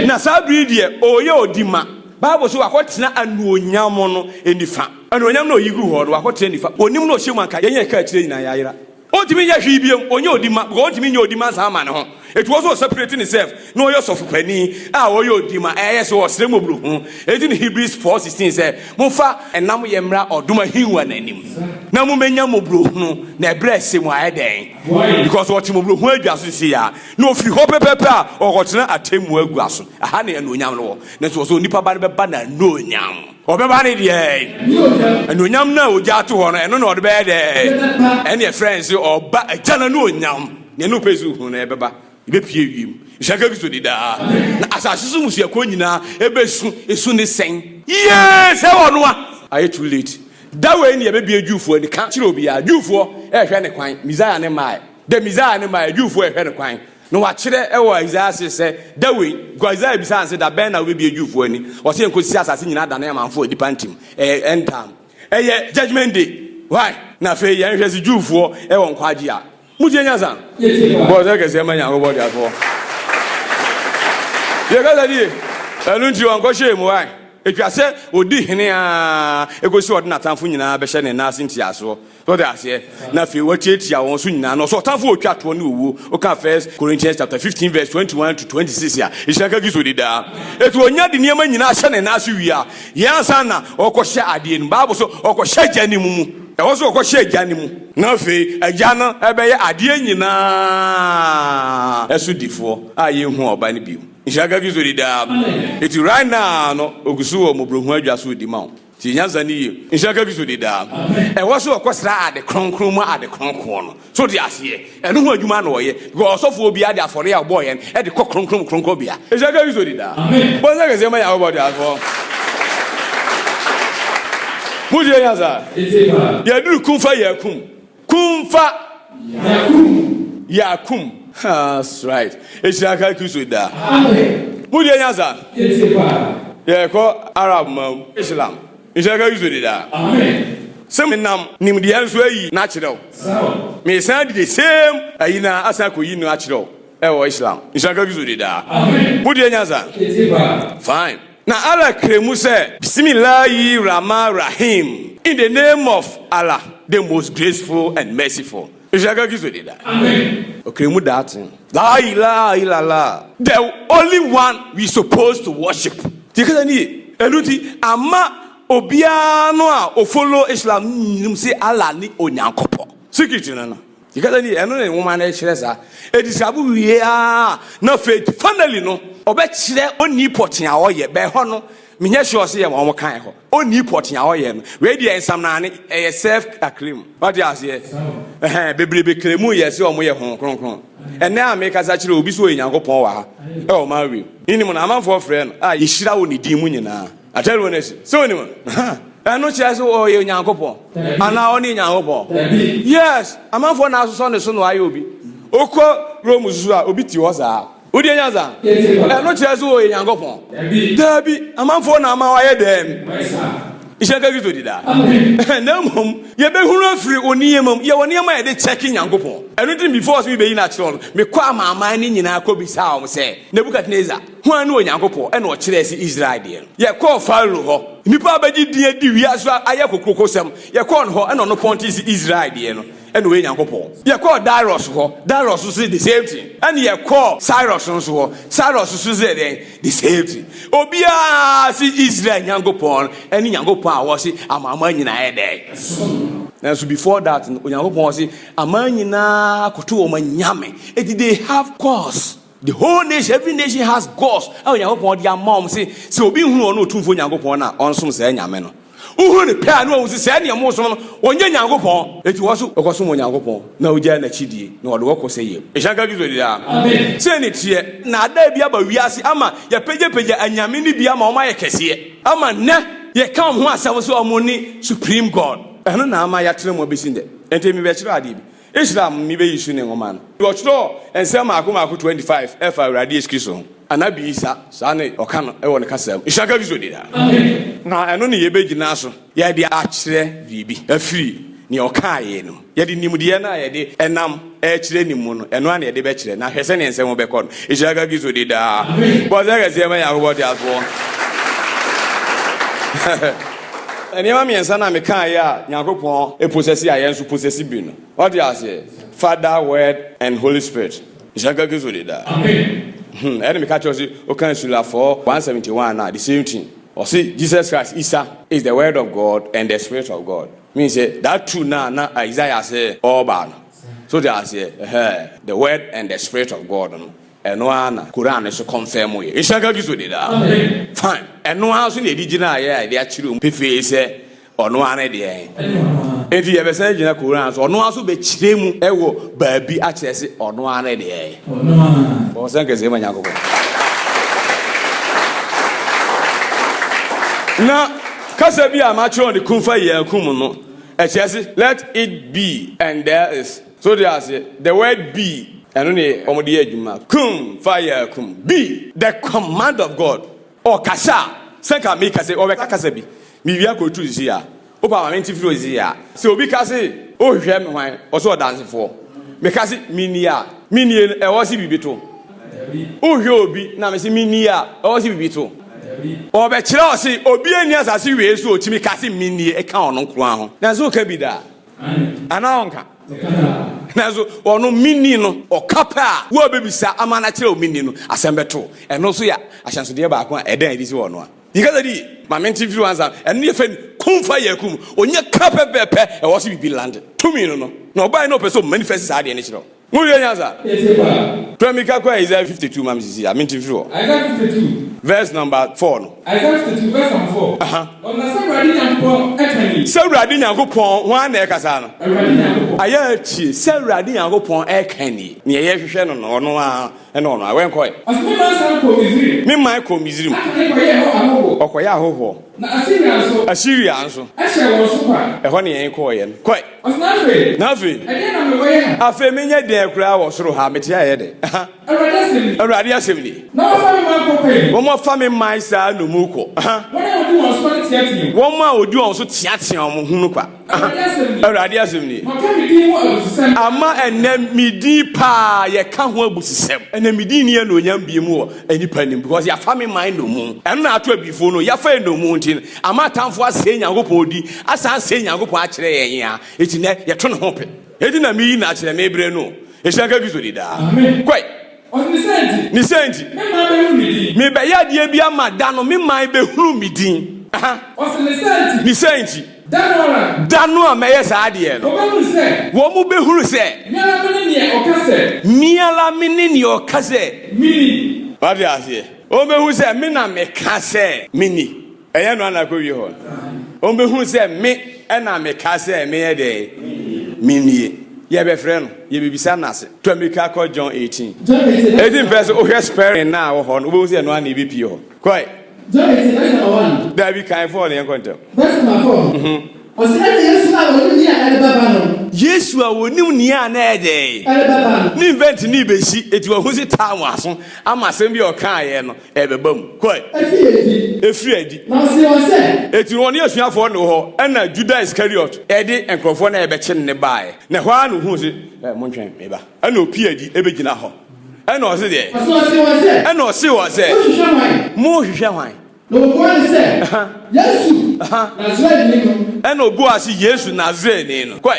Speaker 1: Na saa bere yi deɛ ɔreyɛ ɔdi ma. Bible se wakɔtena anuonyam no nifa. Anuonyam no a ɔyi gu hɔ no wakɔtena nifa. Onim na ɔhyɛ mu anka yɛn a yɛka akyire nyinaa yɛayera. Ontumi nyɛ hwee bio, ɔnyɛ ɔdi ma, because ontumi nyɛ ɔdi ma saa ma ne ho. Eti ɔsɛ ɔseparate ne self na ɔyɛ ɔsɔfo panin a ɔyɛ ɔdi ma, ɛyɛ sɛ ɔsrɛ mmɔborohu. Eti na Hebrews four sixteen sɛ, Momfa ɛnam yɛ mmra ɔdom ahengua no anim, na mo mmɛnya mmɔborohunu, na ɛberɛ ɛsɛ mu ayɛ dɛn? Because ɔte mmɔborohunu adwa so seisei a, na ɔfiri hɔ pɛpɛɛpɛ a ɔrekɔtena atemmuo agua so, ɛha na anuonyam no wɔ, nanso ɔsɛ onipa ba no bɛba n'anuonyam. Ɔbɛba ne deɛ anuonyam no a ogya to hɔ no, ɛno na ɔde bɛyɛ dɛ. Ɛne ɛfrɛ no sɛ ɔba agya no anuonyam. Nea ɛne wopɛ sɛ ohu no ɛbɛba, ebepie wiem. Nhyira ka Kristo de daa. Na asase so mmusuakuo nyinaa ebesu esu ne sɛn. Yie sɛ ɔno a. Ayɛ too late. Da wei na yɛbɛbue Jewfoɔ ani. Ka kyerɛ obiara. Jewfoɔ ɛrehwɛ ne kwan. Messiah no mmaeɛ. Da Messiah no mmaeɛ, Jewfoɔ ɛrehwɛ no kwan. Na wɔakyerɛ wɔ Isaiah ase sɛ, da wei, because Isaiah bisaa no sɛ, da bɛn na wobɛbie Jewfoɔ ani? Ɔse, ɛnkɔsi sɛ asase nyinaa dane amanfoɔ a nnipa nte mu. Ɛyɛ end time. Ɛyɛ judgement day. Why? Na afei yɛnhwɛ se Jewfoɔ wɔ nkwagye a. Motie nyansa? Bɔ ɔsɛ kɛseɛ ma Nyankopɔn teasefoɔ. Yɛkasa nie. Ɛno nti wɔnkɔhyɛɛ mu. Why? Ɛtwa sɛ ɔdi hene aa ɛkɔsi ɔde n'atamfo nyinaa bɛhyɛ ne nan ase ntiasoɔ. So ɔde aseɛ? Na afei watiatia wɔn so nyinaa, na ɔsɛ ɔtamfo a otwa toɔ ne owuo. Woka First Corinthians chapter 15 verse 21 to 26 a, ehyira ka Kristo dedaa. Eti onya de nneɛma nyinaa hyɛ ne nan ase wie a, yɛn ansa na ɔrekɔhyɛ adeɛ no mu. Bible so ɔkɔhyɛ Agya no mu. Ɛhɔ so ɔkɔhyɛ Agya no mu. Na afei Agya no bɛyɛ adeɛ nyinaa so difoɔ a yɛnhu Ɔba no bio. Nhyira ka Kristo dedaa. Eti right now no ogu so wɔ mmɔborɔhunu adwa so redi ma wo. Tie nyansa no yie. Nhyira nka Kristo de daa. Ɛhɔ sɛ ɔkɔsra ade kronkron mu ade kronkron no. So wote aseɛ? Ɛno ho adwuma na ɔyɛ. Because ɔsɔfoɔ biara de afɔreɛ a ɔbɔeɛ no de kɔ kronkron mu kronkronbea. Nhyira nka Kristo de daa. Bɔ nsa kɛseɛ ma Nyankopɔn ɔdaeɛfoɔ. Motie nyansa? Yɛaduru kumfa yɛ akum. Kumfa. Yakum. Yakum. That's right. Ehyira ka Kristo da. Amen. Mo deɛ nya sa. Ete pa. Yɛkɔ Arab ma mu. Islam. Ehyira ka Kristo de da. Amen. Sɛ menam nimdeɛ nso ayi na akyerɛ wo. Sawa. Mesan di the same ayi na asan kɔ yi no akyerɛ wo. Ɛwɔ Islam. Ehyira ka Kristo de da. Amen. Mo deɛ nya sa. Ete pa. Fine. Na Allah kyerɛ mu sɛ. Bisimillahi Rahman Rahiim, In the name of Allah, the Most Graceful and Merciful. Nshaga Gizo de da. Amen. Ɔkyerɛ mu that thing. Laa ilaaha illallah, the only one we supposed to worship. Deɛ ɛkasa ni ye. Ɛno nti, ama obiara no a ɔfollow Islam no nnim sɛ Allah ne Onyankopɔn. Secret no no. Kasa ni, ɛno na nwoma no kyerɛ saa. Edi saa bo wie ara a, na afei finally no, ɔbɛkyerɛ onii pɔtee a ɔyɛ. Bɛn hɔ no, menyɛ sure sɛ yɛ wɔn kan hɔ. Onii pɔtee a ɔyɛ no, wei deɛ nsamnaane, ɛyɛ self acclaim. Wate aseɛ? Ɛhɛn, bebrebe claim yɛ sɛ wɔyɛ Honhom Kronkron. Ɛnnɛ a mekasa kyerɛ obi sɛ ɔyɛ Nyankopɔn wɔ ha, ɛwɔ Maui, menim no, amanfoɔ frɛ no a, yɛhyira wɔ ne din mu nyinaa. Akyɛre wɔ n'akyi. Sɛ onim a, ɛno kyerɛ sɛ ɔyɛ Onyankopɔn anaa ɔne Nyankopɔn. Yes, amanfoɔ na asosɔ ne so na wayɛ obi. Okɔ Rome susu a obi ti hɔ saa. Wodi anya saa? Ɛno kyerɛ sɛ ɔyɛ Nyankopɔn. Daabi, amanfoɔ na ama wayɛ dɛm. Nhyɛ nka Kristo di daa. Na mmom yɛbɛhunu afiri o nneɛma mu. Yɛwɔ nneɛma a yɛde kyɛke Nyankopɔn. Ɛno nti before sɛ mebeyi no akyerɛ wo no, mekɔ amanaman no nyinaa kɔbisaa wɔn sɛ, Nebukadnesar, Hwan ne Onyankopɔn? Ɛnna ɔkyerɛɛ se, Israel deɛ no. Yɛkɔɔ Farao hɔ. Nnipa a wɔbɛgye din adi wiase so ayɛ kokurokosɛm, yɛkɔɔ no hɔ, ɛnna ɔno pɔntee se, Israel deɛ no, ɛnna ɔyɛ Nyankopɔn. Yɛkɔɔ Darius hɔ, Darius nso se, The same thing. Ɛnna yɛkɔɔ Cyrus nso hɔ, Cyrus nso se dɛn? The same thing. Obiara se, Israel Nyankopɔn ne Nyankopɔn a ɔse amanaman nyinaa yɛ dɛn? Nanso before that no, Onyankopɔn se, Aman nyinaa koto wɔn anyame, enti they have cause. The whole nation, every nation has gods a Onyankopɔn de ama wɔn se sɛ obi nhunu ɔno Otumfoɔ Nyankopɔn no a ɔnsom saa anyame no. Wohunu no pɛ a na wɔhu se saa nea wɔsom no ɔnyɛ Nyankopɔn. Enti wɔn nso wɔkɔsom Onyankopɔn na wogyae n'akyidie na wɔde wɔn kɔ sɛ yam. Nhyira nka Kristo daa. Sei ne teɛ. Nnaadaa bi aba wiase ama yɛapagyapagya anyame no bi ama wɔn ayɛ kɛseɛ ama nnɛ yɛka wɔn ho asɛm sɛ wɔn ne supreme God. Ɛno na ama yɛatena mu abɛsi nnɛ. Enti mebɛkyerɛ adeɛ bi. Israel Mumi Bɛ Yesu Ne Nwoma No. Wɔtwerɛɔ nsɛm mmaako mmaako 25 ɛfa Awurade Yesu Kristo ho. Anabi Isa, saa ne wɔka no wɔ ne kasa mu. Nhyira nka Kristo din daa. Na ɛno ne yɛbɛgyina so yɛde akyerɛ biribi afiri nea ɔkaeɛ no mu. Yɛde nimdeɛ no a yɛde nam rekyerɛ no mu no, ɛno ara na yɛde bɛkyerɛ, na hwɛ sɛdeɛ nsɛm bɛkɔ no. Nhyira nka Kristo din daa. Bɔ ɔsɛ kɛseɛ ma Nyankopɔn Teasefoɔ. Nneɛma mmiɛnsa no a mekaeɛ a Nyankopɔn posɛse a yɛn nso posɛse bi no, wate aseɛ? Father, Word, and Holy Spirit. Nhyira nka Kristo de daa. Hmm, ɛne meka kyerɛ wo se, woka Sulafɔɔ 171 no a, the same thing. Ɔse Jesus Christ, Isa, is the Word of God and the Spirit of God. Mean sɛ, that two no a na Isaiah se ɔɔba no, so te aseɛ? Ɛhɛɛ, the Word and the Spirit of God no. Ɛno ara na Koran no nso kɔnfɛmoeɛ. Nhyira nka Kristo din daa. Fine. Ɛno ara nso na ɛde gyinaeɛ a yɛde akyerɛ mu pefee sɛ ɔno ara ne deɛn. Enti yɛbɛsan agyina Koran so, ɔno ara nso bɛkyerɛ mu wɔ baabi akyerɛ se ɔno ara ne deɛn. Bɔ ɔsɛn kɛseɛ ma Nyankopɔn. Na kasa bi a makyerɛw ne kumfa yɛn akum no, ɛkyerɛ se let it be and there is. So wote aseɛ? The word be, ɛno ne wɔde yɛ adwuma. Kun fayakun. Be the command of God. Ɔkasa a, sɛ nka meka sɛ ɔbɛka kasa bi, mewia kɔ tu sisi a, wopɛ ama mente firi hɔ sisi a. Sɛ obi ka se, wohwehwɛ me hwan? Ɔse ɔdansefoɔ. Meka se, mennie a, mennie no, ɛwɔ se biribi to? Wohwehwɛ obi na mese mennie a, ɛwɔ se biribi to? Ɔbɛkyerɛ wo se obiara nni asase wei so a ɔtumi ka se mennie ka ɔno nko ara ho. Nanso woka bi da. anaa ɔnka nanso ɔno menni no ɔka pɛ a wo a bɛbisa ama no akyerɛ wo menni no asɛm bɛto ɛno nso yɛ ahyɛnsodeɛ baako a ɛdɛn adi sɛ wɔ no a yikasa di ma mente mfiri wansa ɛno yɛ fɛ kumfa yɛ akum ɔnyɛ ka pɛpɛpɛ ɛwɔ so biribi lande tumi no no na ɔbae na ɔpɛ sɛ ɔmanifɛsi saa adeɛ no kyerɛ Mo hwɛ nya sa. Kete paa. Pra mi ka kɔ Isaiah fifty two ma me sisi a, me nti mfiri hɔ. Isaiah fifty two. Verse number four no. Isaiah fifty two
Speaker 2: verse number
Speaker 1: four. Aha. Ɔ na sɛ Awurade
Speaker 2: Nyankopɔn ɛka ni. Sɛ Awurade Nyankopɔn, hwan na ɛkasa no? Awurade Nyankopɔn. Ayɛ a tie, sɛ Awurade Nyankopɔn ɛka ni. Neɛ yɛ hwehwɛ no no, ɔno ara, ɛne ɔno ara, wɛnkɔɛ. Ɔse me man san kɔɔ Misrim. Me man kɔɔ Misrim. Aka ne kɔyɛɛ hɔ ahɔhoɔ. Ɔkɔyɛ ahɔhoɔ. Na Asiria nso. Asiria nso. Hyɛɛ wɔn so kwa. Ɛhɔ na yɛn kɔɔeɛ
Speaker 1: no. Kɔe. Ɔse na afei. Na afei. Ɛdeɛn na mewɔ yɛ ha? Afei
Speaker 2: menyɛ deɛn koraa
Speaker 1: wɔ soro ha? Mete ha yɛ dɛn? Aha. Awurade asɛm nie. Awurade asɛm nie. Na wɔafa me man kɔ pɛyɛ. Wɔn afa me man saa nnommum kɔ. Aha. Wɔn a wɔdi wɔn so no teateam. Wɔn a wɔdi wɔn so teateam ho no kwa. awurade asɛm ni ama ɛnɛ medin paa yɛka ho abusisɛm ɛnɛ medin ni anuonyam bie mu wɔ nnipa nim because yɛafa me man nnomu ɛno na ato abifo no yɛafa nnomu nti no ama atamfo asɛe nyankopɔn di asan asɛe nyankopɔn akyerɛ yɛn yɛn a ɛti nɛ yɛto ne ho pɛ ɛti na meyi na akyerɛ mebrɛ no ɛhyira nka kristo di daa kɔe Ne saa nti, merebɛyɛ adeɛ bi ama da no me man bɛhunu me din. Ne saa nti, da no a mɛyɛ saa adeɛ no, wɔn bɛhunu sɛ me ara me ne neɛ ɔka sɛ meni. Wate aseɛ? Wɔbɛhunu sɛ me na meka sɛ meni. Ɛyɛ no ana kɔwie hɔ no, ɔmbɛhunu sɛ me na meka sɛ menyɛ dɛn? Mennie. Yɛbɛfrɛ no, yɛbɛbisa no ase. To mmirika kɔ John 18. Ɛdi mpɛ sɛ wohwɛ spɛrin no a wɔ hɔ no, wobɛhu sɛ ɛno ara na ɛbɛpie hɔ. Kɔe. John 18 verse number 1.
Speaker 3: Daabi, kan 4 no, yɛnkɔ ntɛm. Verse
Speaker 1: number 4. Mhm.
Speaker 3: Ɔse, Ɛna Yesu a ɔnim nea ɛrebɛba no. Yesu a ɔnim nea na ɛyɛ dɛn? Ɛrebɛba no. Ne event
Speaker 1: no rebɛsi, enti wahu se time aso ama asɛm bi a ɔkaeɛ no. Ɛbɛba mu. Kɔe. Ɛfiri adi. Ɛfiri adi. Na ɔsee wɔn sɛ. Enti ɔne asuafoɔ no wɔ hɔ, ɛna Juda Iskariot de nkurɔfoɔ no a ɛbɛkye no no baeɛ. Na ɛhɔ ara na ɔhuu se, Ɛ, montwɛn, meba. Ɛna ɔpue adi bɛgyina hɔ. Ɛna ɔse deɛ. Ɔse ɔsee wɔn sɛ. Ɛna ɔsee wɔn sɛ. Mohwehwɛ hwan? Mohwehwɛ hwan? Na ɔbuaa no sɛ.
Speaker 3: Yesu, Nasareni no. Ɛna ɔbuaa se,
Speaker 1: Yesu, Nasareni no. Kɔe.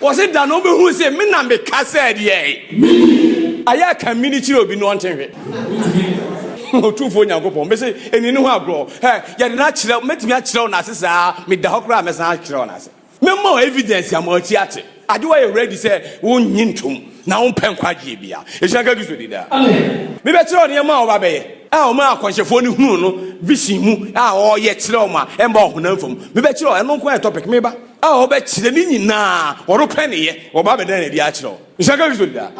Speaker 1: Wɔse da na ɔbɛhu se me na meka sɛ deɛ. Ayɛ aka me no kyerɛ obi no ɔnte hwe. Otumfoɔ Nyankopɔn mese ɛni ne ho agorɔ. Hɛ, yɛde no akyerɛ, mɛtumi akyerɛ wo n'ase saa a, meda hɔ koraa a mɛsan akyerɛ wo n'ase. Mɛma wo evidence ama w'ati ate. Agye woayɛ ready sɛ wonnye ntom na wompɛ nkwagyeɛ bia. Ɛhyira nka Kristo din daa. Mebɛkyerɛ wo nneɛma a wɔbɛyɛ a wɔmaa akɔnhyɛfoɔ no hunuu no vision mu a ɔreyɛ kyerɛ wɔn a ɛmma ɔhonam fam. Mebɛkyerɛ wo, ɛno nko ara yɛ topic, meba. a ɔbɛkyerɛ ne nyinaa ɔno pɛ ne yɛ ɔba bɛda no adi akyerɛ wo nhyɛ nka kristo daa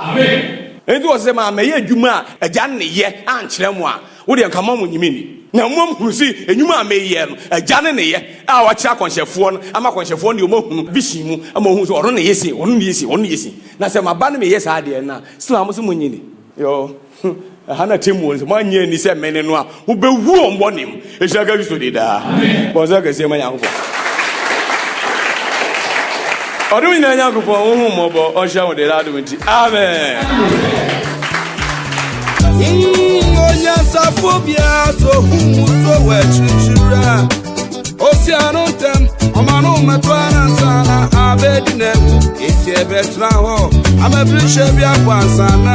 Speaker 1: ɛnti wɔ sɛ maa mɛyɛ adwuma a agya ne yɛ ankyerɛ mo a wodeɛ nka mo nyimi ni na mmom hunu si enyuma a meyɛ no agya ne ne yɛ a wakyerɛ akɔnhyɛfoɔ no ama akɔnhyɛfoɔ no deɛ ɔmahunu vision mu ama ɔhunu sɛ ɔno ne yɛ se ɔno ne yɛ se ɔno ne yɛ se na sɛ maba no meyɛ saa deɛ no a sɛ maa mo sɛ mo nyi ni yoo Ho. Ɛha na atemmuo no sɛ moanyɛ anni sɛ mene no a, mobɛwu wɔn bɔne mu. Ɛhyira ka Kristo de daa. Bɔ nsa kɛseɛ ma Nyankopɔn. Ɔdom nyinaa Nyankopɔn, wo ho mmɔbɔ, ɔnhyira wo de daa adom nti. Amen.
Speaker 4: onyansafo biara so hu mu so wɔ akyirikyiri a osi ano ntɛm ɔma no mmɛtɔ anansa na abɛdi n'awu eti ɛbɛtena hɔ amabirihyɛ bi abɔ ansa na